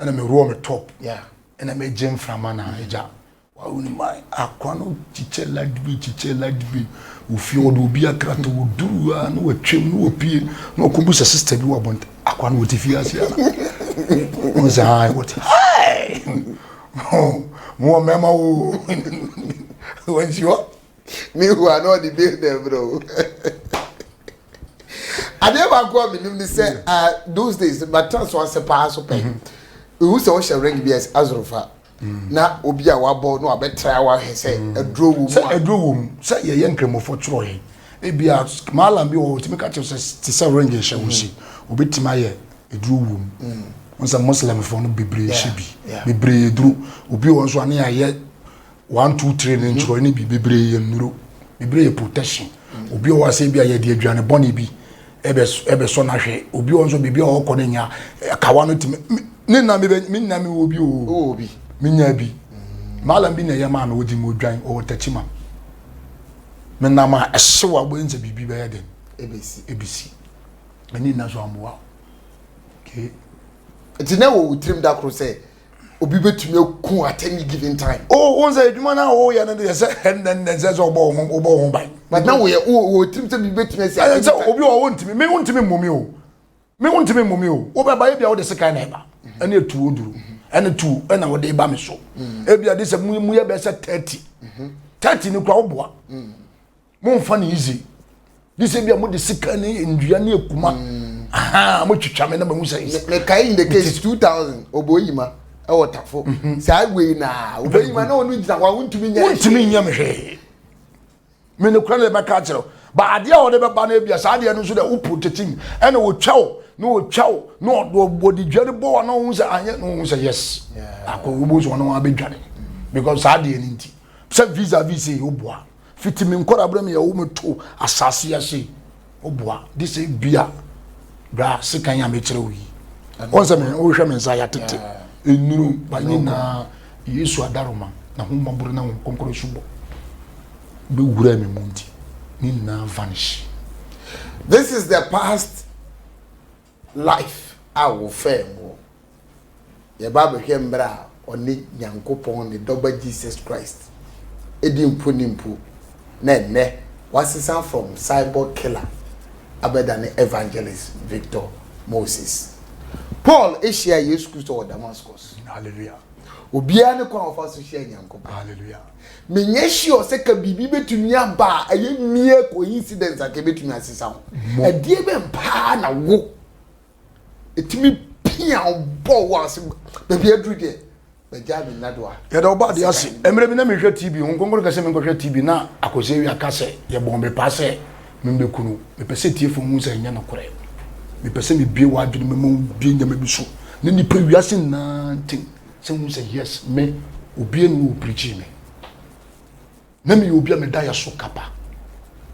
ɛna me roɔ me top ɛna me gye mframa na ɛgya wawo ne ma akwa no kyikyɛ ladbi kyikyɛ ladbi ofie wɔde obi akrata wɔduru a na wɔatwam na wɔpie na ɔkɔbu sɛ sista bi wɔ abɔnte akwa no wɔte fie ase ana ɔn sɛ ha wɔte mowɔ mmarima wo wɔnsi hɔ Mehu a na ɔde bill na ɛbrɛ o. Adeɛ baako a menim ne sɛ ah, those days matena so ase paa so pɛ. Ehu sɛ wohyɛ ring bi a ɛsɛ azorofa na obi a wabɔ na wabɛtra wahwɛ sɛ aduro wɔ mu sɛ a. aduro wɔ mu sɛ yɛyɛ nkramofo twerɛ yɛn ebia malam bi wɔ hɔ ɔtumi ka kyerɛ wo sɛ te sɛ ring nhyɛ wo se obɛtumi ayɛ aduro wɔ mu wo sɛ muslimfoɔ no bebree Yeah, hyɛ bi yeah. bebree duro obi wɔ hɔ nso a ne yɛayɛ One, two, three ne nkyerɛw no bi bebree yɛ nnuro. Bebree yɛ protection. Obi wɔ hɔ a sɛ ebi a yɛde aduane bɔne bi ɛbɛsɔ no ahwɛ. Obi wɔ nso biribi a ɔkɔ no nya kawa no tumi. Ne nna me nna me wɔ bi o. Me nya bi. Maalam bi na ɛyɛ maa me wɔ gyim odwan ɔwɔ takyima. Me nam a ɛhyew a wobɛyɛ sɛ biribi bɛyɛ den. Ebesi. Ebesi. Ɛne nna so amboa. Okay. Nti na wɔ wo tirim da koro sɛ obi bɛtumi aku at any given time oh wɔn sɛ adwuma no a wɔyɛ no deɛ sɛ ɛnnɛnnɛ sɛ sɛ wɔbɔ ho wɔbɔ ho ban but na wɔyɛ wɔ tirim sɛ biribi bɛtumi asi ɛyɛ sɛ obi wɔ wɔntumi me wontumi mmɔ mi o me wontumi mmɔ mi o wobɛba ebi a wode sekan na ɛba ɛne etu oduro ɛne tu ɛna wɔde ba me so ebi a de sɛ mu mu yɛ bɛsɛ thirty thirty ne kura woboa. momfa no easy ne sɛ bia mode sika ne nnua ne akuma mm. aha motwitwa me na mahu sɛ mekae in the case 2000 ɔbɔyima ɛwɔ tafo mhm. saa wei na ɔbɔyima na ɔno gyina hɔ a wontumi nyɛ wontumi nyɛ me hwee me ne kora ne bɛka akyerɛ ba adeɛ a wɔde bɛba no abia saa adeɛ no nso dɛ wo protect mu ɛna wɔtwa wo na wɔtwa wo na wɔde dwa no bɔ wa na wɔhu sɛ anyɛ na wɔhu sɛ yes akɔ wɔbɔ so wɔn abɛdwane because saa adeɛ no nti sɛ visa visa yi woboa Fiti me nkɔrabere me yɛwo me to asase ase oboa de sɛ bia bra sekan a mekyerɛ wo yi wɔn sɛ me wohwɛ me nsa ya tete enuru ba nyinaa yesu adaroma na ho mmɔboro na ho kɔnkɔrɔ subɔ bɛwura me mu nti ne nyinaa vanish this is the past Life a wɔfɛɛ mo wɔ. Yɛba bɛhwɛ mbrɛ a ɔne Nyankopɔn ne Dɔba Jesus Christ di mponin mpo na ndɛ ɔasesã from cyborg killer abɛdane evangelist Victor Moses. Paul hyiaa Yesu Christo wɔ Damascus. Hallelujah. Obiara ne kwan a ɔfa so hyia Nyankopɔn. Hallelujah. menyɛ sure sɛ ka biribi bɛtumi aba a ɛyɛ mere coincidence anka ɛbɛtumi asesa ho ɛdeɛ bɛn paa na wo ɛtumi pia wo bɔ wo ase baabi aduru deɛ bɛgyaa me nna do a yɛda wo ba adeɛ ase mmerɛ bi na mehwɛ tv ho nkonkoro kɛsɛ menkɔhwɛ tv na akɔsɛ awia ka sɛ yɛbɔɔ me paa sɛ membɛkunu mepɛ sɛ tiefo hu sɛ ɛnyɛ nokorɛ mepɛ sɛ mebie wɔ adwene mɛma wobie nyɛma bi so ne nipa wiase nyinaa ntem Sɛ wohu sɛ yes me obia ni hɔ o prikyii me na meyɛ obia me daeɛ so kapa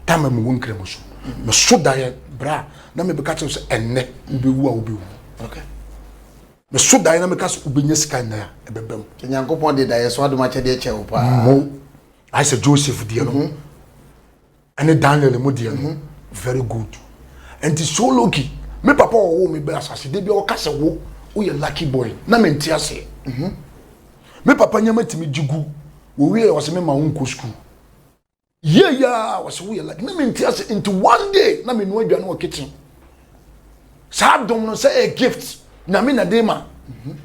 tama mu wɔ nkramu so me so daeɛ bra na me bɛka kyerɛ sɛ ɛnnɛ wobɛwu a wobɛwu okay me so daeɛ na meka sɛ wobɛnya sika nnɛ a ɛbɛba mu sɛ nyankopɔn de daeɛ so adom akyɛdeɛ kyɛ wo paa mo ayɛ sɛ joseph deɛ no mhm. ɛne daniel mu deɛ no very good nti so lucky me papa ɔwɔ me bɛ asase de bi ɔka sɛ wo woyɛ lucky boy na me nte aseɛ mhm. me papa nyama tumi gye gu wɔwie ɔsɛ me ma wo nkɔ sukuu yie yia ɔsɛ woyɛ lucky na me nte ase nti one day na me nua aduane wɔ kitchen saa dom no sɛ ɛyɛ gift nyame na de ma mhm.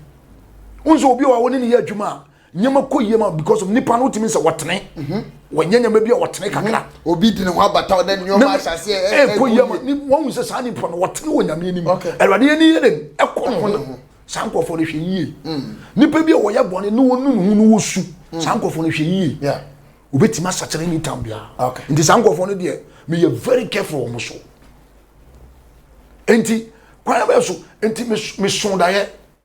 wo nso obi a wɔne ne yɛ adwuma a nneɛma kɔ yie ma because of nipa no wotumi sɛ wɔtene mhm. wɔnyɛ nneɛma bi a wɔtene mhm. kakra obi de ne ho abata ɔdɛ nneɛma ahyɛ aseɛ eh, ɛkɔ yie ma wɔn sɛ saa nipa no wɔtene wɔ nyame anim awurade yɛ ne yɛ dɛm ɛkɔ ne ho saa nkurɔfoɔ no hwɛ yie mm. nipa bi a wɔyɛ bɔne ne wɔn nunu ho ne wɔsu mm. saa nkurɔfoɔ no hwɛ yie obetumi asakyerɛ ne tam biara nti saa nkurɔfoɔ no deɛ meyɛ very careful wɔn so nti kwan bɛɛ so nti meso daeɛ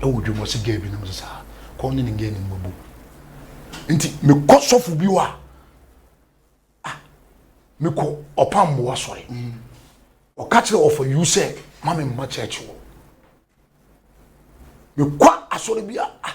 wɔ dwom ɔsi gɛɛ bi nom sɛ saa kɔɔ ne ne gɛɛ ne mmabu nti mekɔ sɔfo bi hɔ a ah, mekɔ ɔpa mmoa sɔre ɔka kyerɛ ɔfa yiw sɛ ma me mma kyɛɛkye wɔ mekɔ asɔre bi a ah,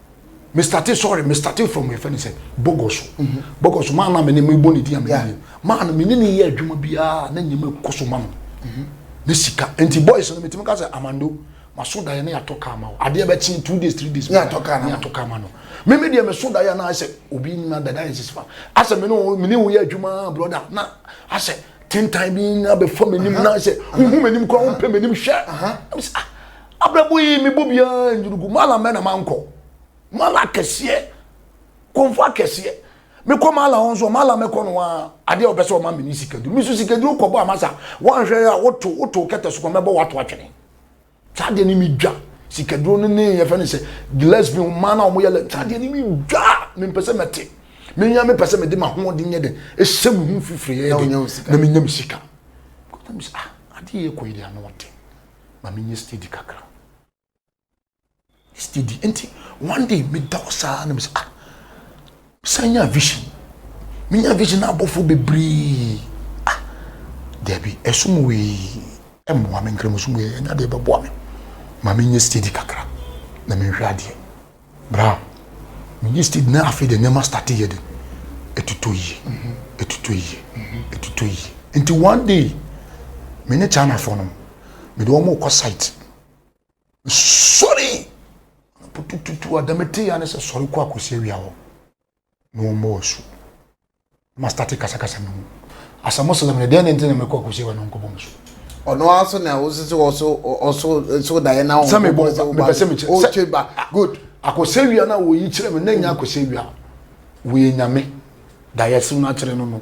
me started sorry me started from my friend sɛ bɔgɔso bɔgɔso maa naa mi ni mi bɔ ne di yan mi ni maa no mi ni ni yɛ adwuma biara ne nyɛma kɔ so ma no ne sika nti boys no mi ti mi ka sɛ amando ma so da yɛ ne yatɔ kaa ma o adeɛ bɛ kyen two days three days ne yatɔ kaa na ne yatɔ kaa ma no mi mi deɛ mi so da yɛ na asɛ obi na dada yɛ sisi fa asɛ mi ni o mi ni o yɛ adwuma broda na asɛ tentan bi na bɛ fɔ mi nim na asɛ huhu mi nim kura o mpɛ mi nim hwɛ ɛmi sɛ ah. Abrabɔ yi mebɔ biara nyini gu mala mɛ na mankɔ mala akɛseɛ kɔnfo akɛseɛ mekɔ mala hɔ nso mala mɛkɔ no a adeɛ a wɔpɛ sɛ wɔma me ne sikaduro me nso sikaduro kɔbɔ amasa wɔanhwɛ a woto woto kɛtɛ so kɔ mɛbɔ wato atwene saa adeɛ ne medwa sikaduro no ne yɛfɛ no sɛ gillespie mmaa no a wɔyɛ lɛ saa adeɛ ne medwa mempɛ sɛ mɛte menya mepɛ sɛ mede mahoɔden nyɛ dɛ ɛhyɛ me ho mfifiri yɛ dɛ na menya me sika ah, adeɛ yɛ kɔ yi deɛ ano ɔte ma me nyɛ steady kakra steady nti one day me da hɔ saa na me sɛ ah san nya vision me nya vision abɔfo bebree ah dabi ɛsom wei ɛmmoa me nkramosom wei ɛnya deɛ ɛbɛboa me ma me nyɛ steady kakra na me nhwɛ adeɛ Bra, menye Steve na afei de nneɛma starte yɛ de, ɛtotɔ yie, ɛtotɔ yie, ɛtotɔ yie. Nti one day, me ne Chinafoɔ no, me de wɔn rekɔ site. Sɔre! Putututu, ada metee ya ne sɛ sɔre kɔ akɔsi awia hɔ. na wɔn bɔɔ su ma starte kasakasa no mu asɛ muslim no deɛ ne nti na mekɔ akɔsi wa no nkɔbɔ mu so ɔno ara so na wosi sɛ ɔso ɔso so daeɛ na sɛ mebɔ mepɛ sɛ mekyɛ ɔtwe ba good akɔsɛ wia no a wɔyi kyerɛ me na nya akɔsɛ wia wɔyɛ nyame daeɛ so no akyerɛ no no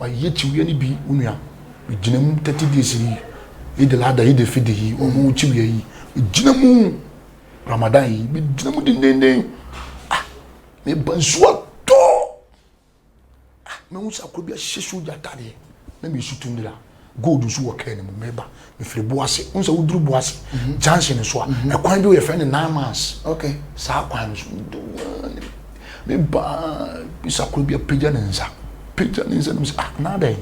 Wayi akyiwia no bi wo nua megyina mu thirty days yi eid al adha eid al fitr yi wɔn mu akyiwia yi megyina mu ramadan yi megyina mu dendenden ah meba nsuo atɔ ah mehu sɛ akɔ bi ahyehyɛ sogya ataadeɛ na mesu tu ndra Gold nso wɔ car no mu meba mefiri boase wohu sɛ woduru boase junction nso a mhm. ɛkwan bi wɔ yɛfrɛ no nine months saa kwan no so meba bisa koro bi apagya ne nsa pagya ne nsa no mu sɛ ah na adɛn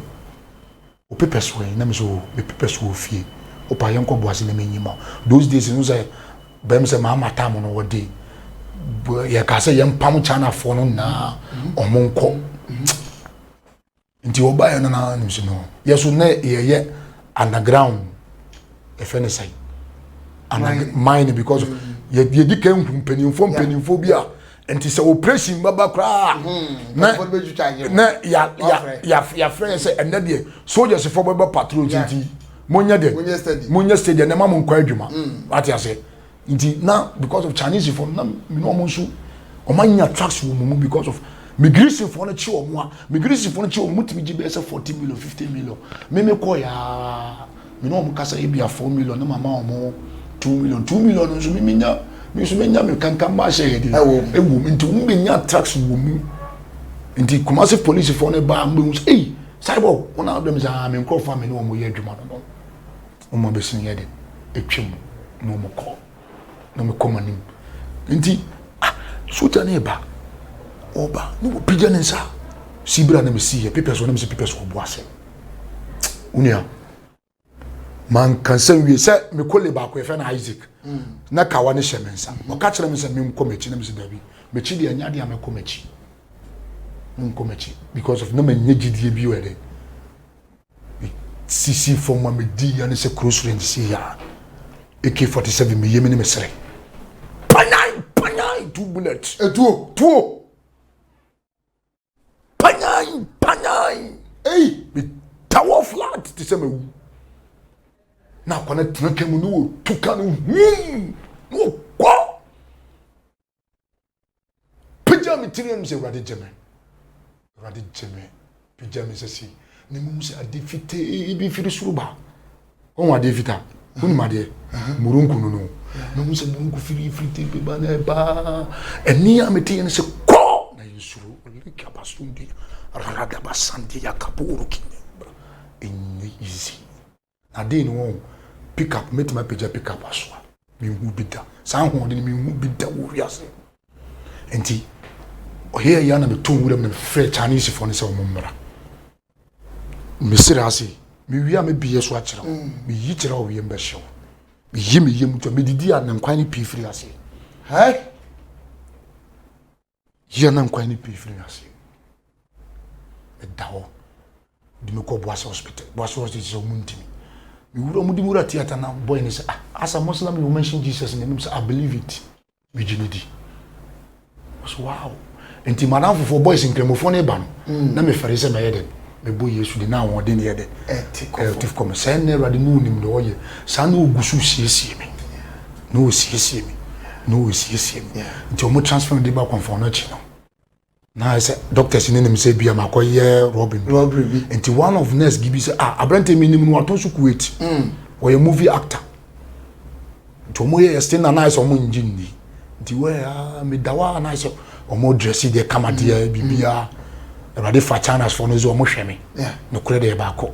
wopepɛ so ɛ na me so mepepɛ so wɔ fie wopa yɛnkɔ boase na menyi ma those days no sɛ bɛm sɛ maama tam no wɔde yɛka sɛ yɛmpam chinafoɔ no nyinaa mhm. ɔmo nkɔ mhm. nti wɔbaeɛ no na nim si no yɛ so na yɛyɛ underground ɛfɛ ne sɛn mine no because yɛdi kan hu mpanimfoɔ mpanimfoɔ bi a nti sɛ operation bɛba koraa na na yɛafrɛ yɛ sɛ ɛnɛ deɛ soldiers fo bɛbɛ patrol nti monyɛ deɛ monyɛ stadium na ma mo nkɔ adwuma wate aseɛ Nti na because of Chinese fɔ no na me ne wɔn nso wɔn anya tracks wɔ wɔn mu because of me Greece fɔ no kye wɔn a me Greece fɔ no kye wɔn mu tumi gye bɛyɛ sɛ forty million fifty million me me kɔ yaa me ne wɔn kasa ebi a four million na ma ma wɔn two million two million nso me me nya me nso me nya me kankan ma ahyɛ yɛ de ɛwɔ mu nti wɔn bɛ nya tracks wɔ mu nti Kumasi police fɔ no ba wɔn bɛ hu sɛ eyi cyborg wɔn a wɔn bɛ mi sɛ aa me nkorɔfo a me ne wɔn yɛ adwuma no no. Wɔn abɛsen yɛ den, atwa mu na wɔn kɔ, na wɔn kɔ wɔn anim. Nti, ah, sogya no reba, ɔba, na wɔpagya ne nsa. Si bere a na mesi yɛ pepɛ so, na mesi pepɛ so ɔbo ase. Onua, manka nsɛm wie sɛ me kole baako yɛfɛ na Isaac, mm. na kawa ne hyɛ me nsa. Mm-hmm. Ɔka kyerɛ me sɛ menkɔ m'akyi, na mesi daabi. M'akyi deɛ ɛnyɛ adeɛ a mɛkɔ m'akyi. Menkɔ m'akyi because of na manya gyidie bi wɔ ɛdɛn Mesisii fam ma medii ya ne sɛ kuro soro nsi ya. AK-47 me yam ne me sere. Panyan! Panyan! Two bullets. Etuo! Tuo! Panyan! Panyan! Ei! Me tawɔ flat te sɛ mawu. Na akwa no tena ka mu ne wɔtu ka no hum! Na ɔkɔ! pagya me tiri anum sɛ awurade gye me awurade gye me pagya me sɛ sei na mmom sɛ ade fitee bi firi soro ba ɔhu adeɛ fitaa wonim adeɛ murunku no no na ɔhu sɛ murunku firi firi te bi ba na ɛbaa ɛne a mete yɛ no sɛ kɔ na yɛnsuro ɔleka basondi radaba sande yakaboro kine ɛnyɛ easy Na dee no wɔn pick up mɛtumi apagya pick up asoa menhu bi da saa ahoɔden menhu bi da wɔ wiase nti ɔyɛ yɛ na meto nwura mu na mefrɛ Chinese foɔ no sɛ wɔn mmra mesrɛ ase mewie a mebiyɛ so akyerɛ wo mm. meyi kyerɛ wo wiem bɛhyɛ wo meyi meyɛ mu twa medidi a ne nkwan no pii firi ase Yɛ na nkwa ne pii firi ase. Meda hɔ de me kɔ Boase hospital. Boase hospital sɛ ɔmo ntumi. Me wura ɔmo de me wura theatre na boy ne sɛ ah as a Muslim you mention Jesus in the name sɛ I believe it. Me gye ne di. Ɔsɛ wow. Nti madam fofoɔ boys nkramofoɔ ne ba no mm. na mefɛre sɛ mɛyɛ dɛ mebɔ Yesu de na ahoɔden yɛ dɛ ɛte kɔm sɛ ɛnna Awurade ne onim ne ɔyɛ saa na ogu so siesie me. Na ɔresiesie me, na ɔresiesie me. Nti wɔn transfer me de ba kɔnfɔn no akyi no. Na ayɛ sɛ doctors no nim sɛ bi a makɔyɛ robbery bi. Robbery bi. Nti one of nurse bi bi sɛ ah aberanteɛ mi nim no watɔn so Kuwait. Mm. Ɔyɛ movie actor. Nti wɔn yɛ yɛ sting na na ayɛ sɛ wɔn ngye nni. Nti wɛ ah mi da hɔ a na ayɛ sɛ wɔn dress deɛ kama deɛ mm. biribiara. Awurade fa China's fo no dze wɔn hwɛ me. Yeah. Nokorɛ deɛ yɛ baako.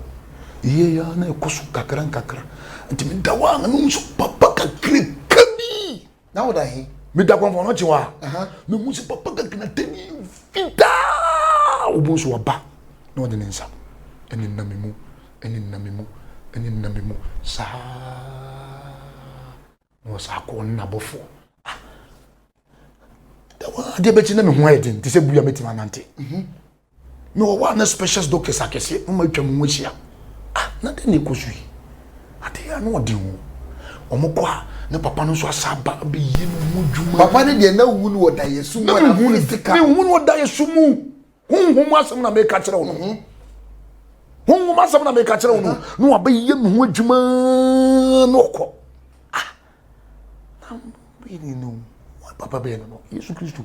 Yei ara na ɛkɔ so nkakrankakra. Nti meda hɔ a na mehu sɛ papa kakraka bi. Na woda he? Meda kɔmfɔ no kyewa a, mehu sɛ papa kakratani fitaa obu nso aba na ɔde ne nsa ɛne nam mu, ɛne nam mu, ɛne nam mu saa. Na ɔsɛ akɔ ne n'abɔfoɔ ah adeɛ bɛkyi na me ho ayɛ den te sɛ buru a mɛtumi anante mhm. me wɔ hɔ a na specials doctors akɛseɛ moma atwa mu ho ahyia ah na dɛn na ɛkɔ so yi adeɛ a na ɔde ho wɔn kɔ a ne papa no nso asa aba abɛyɛ no ho dwuma papa no deɛ na wu no ɔda yɛ su mu na mehu no ɔda yɛ su mu honhom mu asɛm na meka kyerɛ wo no mhm. honhom asɛm na meka kyerɛ wo no mhm. na wabɛyɛ ne ho adwuma na ɔkɔ ah, papa bɛyɛ no no yesu kristo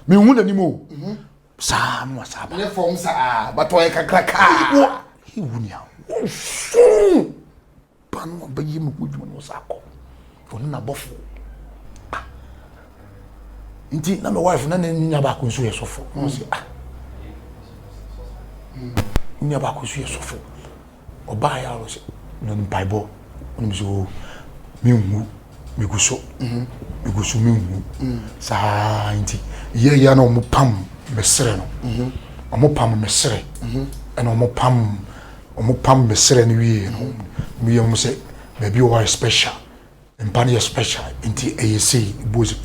mehu n'anim o mhm. saa no asaa ba ne fam saa batɔ yɛ kakra kaa wɔ ewu ni a wɔnso Pa no a ɔbɛyɛ mu ho adwuma no ɔsan kɔ ɔne n'abɔfo ah nti na my wife na ne nua baako nso yɛ sɔfo na ɔsi ah nua baako nso yɛ sɔfo ɔbaa yɛ a ɔsɛ na mpaebɔ ɔno nso mi nhu Megu so, mhm. megu so menwu. Mm. Saa nti, yɛ yɛ na wɔn pam mesrɛ no. Mhm. Wɔn pam mesrɛ. Mhm. Ɛna wɔn pam wɔn pam mesrɛ no wie no. Wɔn yɛ wɔn sɛ baabi wɔ yɛ special. Mpa no yɛ special. Nti ɛyɛ sei buo sɛ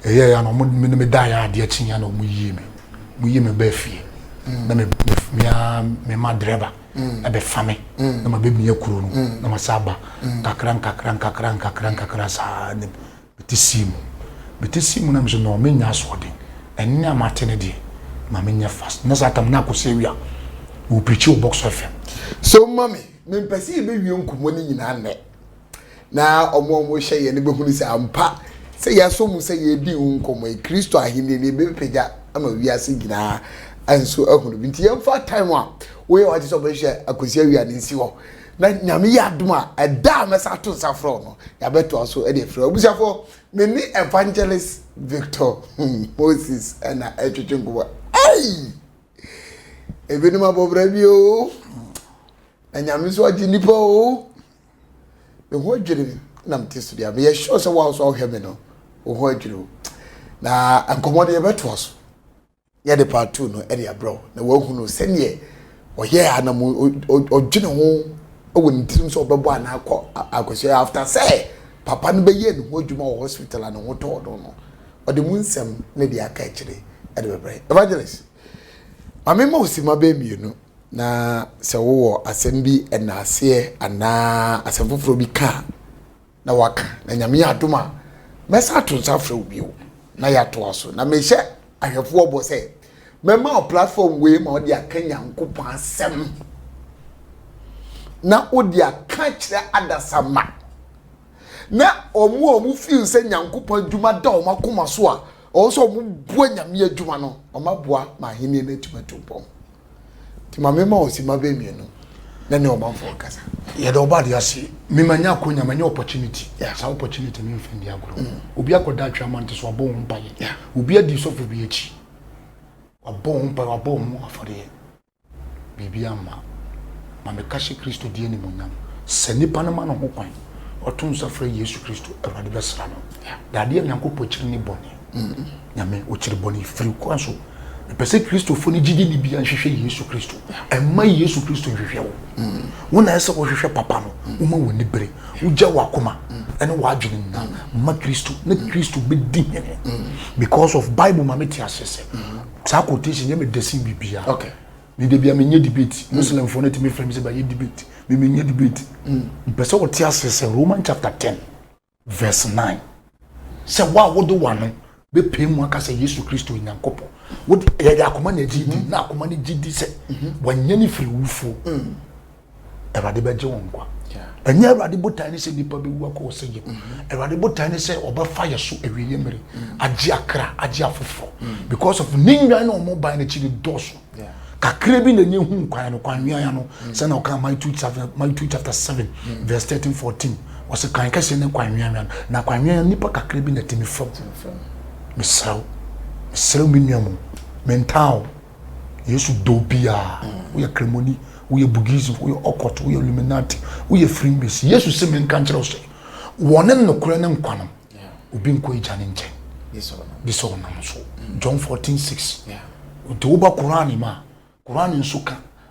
ɛyɛ yɛ na wɔn me ne me da yɛ adeɛ kyen yɛ na wɔn yie me. Wɔn yie me bɛɛ fie. Mm. Na me me me ma drɛba. ɛbɛfa me na mabɛmia kuro no na masa aba nkakra nkakra nkakra nkakra nkakra saa ne mete sii mu mete sii mu na mesɛ na menya asoɔden ɛnne a mate no deɛ ma menyɛ fast na saa tam na akɔsɛ awia wɔpirikyi wɔ box fm so mami mempɛ sɛ yɛbɛwie nkɔmmɔ no nyinaa nnɛ Na wɔn a wɔhwɛ yɛn no bɛhunu sɛ ampa sɛ yɛasɔ mu sɛ yɛredi ho nkɔmmɔ yi, Kristo Ahennie no yɛbɛpagya ama wiase nyinaa nso ahunu bi. Nti yɛmfa time a woyɛ wagye sɛ ɔbɛhwɛ akɔsi awia no nsi hɔ. Na Nyame yɛ adom a, ɛda a mɛsa ato nsa frɛ wo no, yɛabɛtoa so de afiri hɔ. Abusuafoɔ, me ne Evangelist Victor Moses na ɛretwetwe nkɔmmɔ. Ei! Ebinom abɔ bra bi o. Na Nyame nso agye nnipa o. me ho adwiri me na mete so deɛ meyɛ sure sɛ woa nso a wohwɛ me no wo ho adwiri wo na nkɔmmɔ deɛ yɛbɛtoa so yɛde part two no ɛde abrɛ wo na woahunu sɛdeɛ ɔyɛ a na mu ɔdwene ho wɔ ne tirim sɛ ɔbɛbɔ anaa kɔ akɔsua after sɛ papa no bɛyɛ ne ho adwuma wɔ hospital a ne ho tɔɔ no no ɔde mu nsɛm ne deɛ aka akyire ɛde bɛbrɛ evangelist ma mema osima bɛɛ mmienu Na sɛ wowɔ asɛm bi ɛna aseɛ anaa asɛm foforɔ bi ka a na waka na nyame yɛ adom a mɛsa ato nsa afrɛ wo bio na yɛatoa so na mehyɛ ahwɛfoɔ bɔ sɛ mɛma wo platform wei ma wode aka nyankopɔn asɛm na wode aka kyerɛ adasamma na ɔmo a ɔmo feel sɛ nyankopɔn adwuma da ɔmo akoma so a Ɔwɔ sɛ wɔboa Nyame adwuma no, wɔaboa ma Ahenni no atumi atu mpɔn. Nti ma memma wo simma bɛyɛ mmienu na ne ɔmanfoɔ nkasa. Yɛda wo ba ade ase. Me manya akonya, manya opportunity. Yeah. Saa opportunity no mfa ndi agorɔ. Mm. Obi akɔda atwe ama nti so wabɔ wo mpaeɛ. Yeah. Obi adi sɔfo bi akyi. Wabɔ wo mpaeɛ, wabɔ wo ho afɔreɛ. biribi amma. Ma me ka hyɛ Kristo di animuonyam. Sɛ nipa no ma ne ho kwan, ɔto nsa frɛ Yesu Kristo, Awurade bɛsra no. Dadeɛ a Nyankopɔn kyiri ne bɔne. Nyame, ɔkyiri bɔne firi kwan so. Mepɛ sɛ Kristofo no gyidi ni bia nhwehwɛ Yesu Kristo. Ɛmma Yesu Kristo nhwehwɛ wo. Wo na ɛsɛ wo hwehwɛ papa no. Wo ma w'ani bere. Wo gya w'akoma ɛne w'adwene nyina ma Kristo na Kristo bɛdi hene. Because of Bible ma me te aseɛ sɛ. saa quotation yɛ me dɛ sen biribiara okay me de bia menyɛ debate mm. muslimfoɔ no tumi frɛ me sɛ bɛyɛ debate me menyɛ debate mm. mpɛ sɛ wɔte aseɛ sɛ roman chapter 10 verse 9 sɛ wo a wode wano bɛpɛ mu aka sɛ yesu kristo onyankopɔn wode yɛde akoma na agye di mm-hmm. na akoma no gye di sɛ mm-hmm. wanyɛ ne firi wufoɔ mm. awurade bɛgye wo nkwa ɛnyɛ awurade botae ne sɛ nnipa bɛwu akɔ ɔsɛ yɛ mm-hmm. awurade botae ne sɛ ɔbɛfa yɛ so awieɛ mmere mm-hmm. agye akra agye afoforɔ mm-hmm. because of ne nnwan na ɔmo ban no akyi no dɔɔso kakra bi na nye hu nkwan no kwan nwea no sɛ na ɔka Matthew chapter Matthew chapter seven verse thirteen fourteen ɔsɛ kwan kɛseɛ ne kwan nwea nwea na kwan nwea nipa kakra bi na ɛtumi fam mesrɛw mesrɛw me nua mu mentaa o Yesu dɔ obiara. Woyɛ Kremoni, woyɛ Bugism, woyɛ Okot, woyɛ Illuminati, woyɛ Freemason. Yesu se menka nkyerɛ wo sɛ, wɔne nokorɛ ne nkwa no, obi nkɔ agya no nkyɛn gye sɛ ɔnam so. John 14:6. Nti woba Qur'aan mu a, Qur'aan nso ka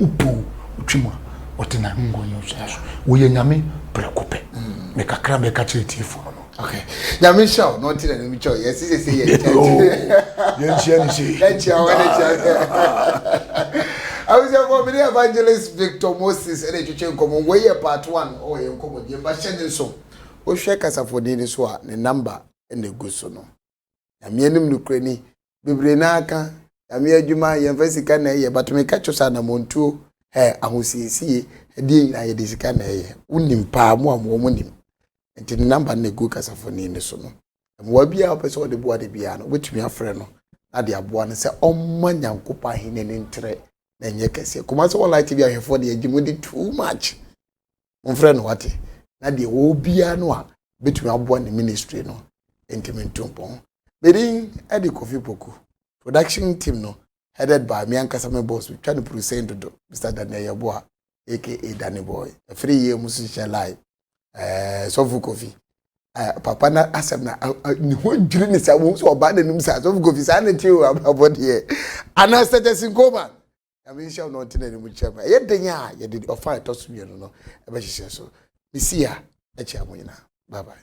Wopo wo, wotwam a, wɔte n'ahengua no so. Woyɛ Nyame prɛko pɛ. Me kakra a mɛka kyerɛ atiefo no no. Okay. Nyame nhyira wo. No nti na no mitwa yɛ sisi sɛ yɛ kyɛ. Oh. Yɛ nhyia ni sɛ. Yɛ nhyia wo ne kyɛ. Awusia for me evangelist Victor Moses ɛna twetwe nkɔmɔ. Wei yɛ part 1 ɔwɔ yɛ nkɔmɔ die mba hyɛ ne nso. Wohwɛ kasafoni no so a ne number ɛna egu so no. Nyame anim nokorɛ ni bebree no ara ka nyame adwuma yɛmfa sika na ɛyɛ but meka kyerɛ sɛ anammɔntuo ɛ ahosiesie ɛdeɛ nyinaa yɛde sika na ɛyɛ wonim paa mo a mo wɔn nim nti ne namba no na ɛgu kasafoni no so no mmoa bi a wopɛ sɛ wɔde boa no biara no wobɛtumi afrɛ no na de aboa no sɛ ɔmma nyankopɔn ahene no ntrɛ na ɛnyɛ kɛseɛ kɔma sɛ wɔlaete bi ahwɛfoɔ de agye mu de too much momfrɛ no wate na deɛ wɔwɔ biara no a bɛtumi aboa ne ministry no ntumi nto mpɔn medin de kofi poku production team no headed by me ankasa me boss twa no puru sɛn dodo mr daniel yɛboa aka danny boy ɛfiri yie mu so hyɛ live ɛɛ sɔfo kofi ɛɛ papa na asɛm na ne ho dwiri ne saa wɔn nso ɔbaa n'anim saa sɔfo kofi saa ne ti o abɔdeɛ anaa sɛtɛsi nkoma Nyame nhyira wo na ɔntene anim nkyerɛ mu. Ɛyɛ den a yɛde ɔfa a ɛtɔ so mmienu no ɛbɛhyehyɛ so. Mesi a ɛkyɛ mo nyinaa. Bye bye.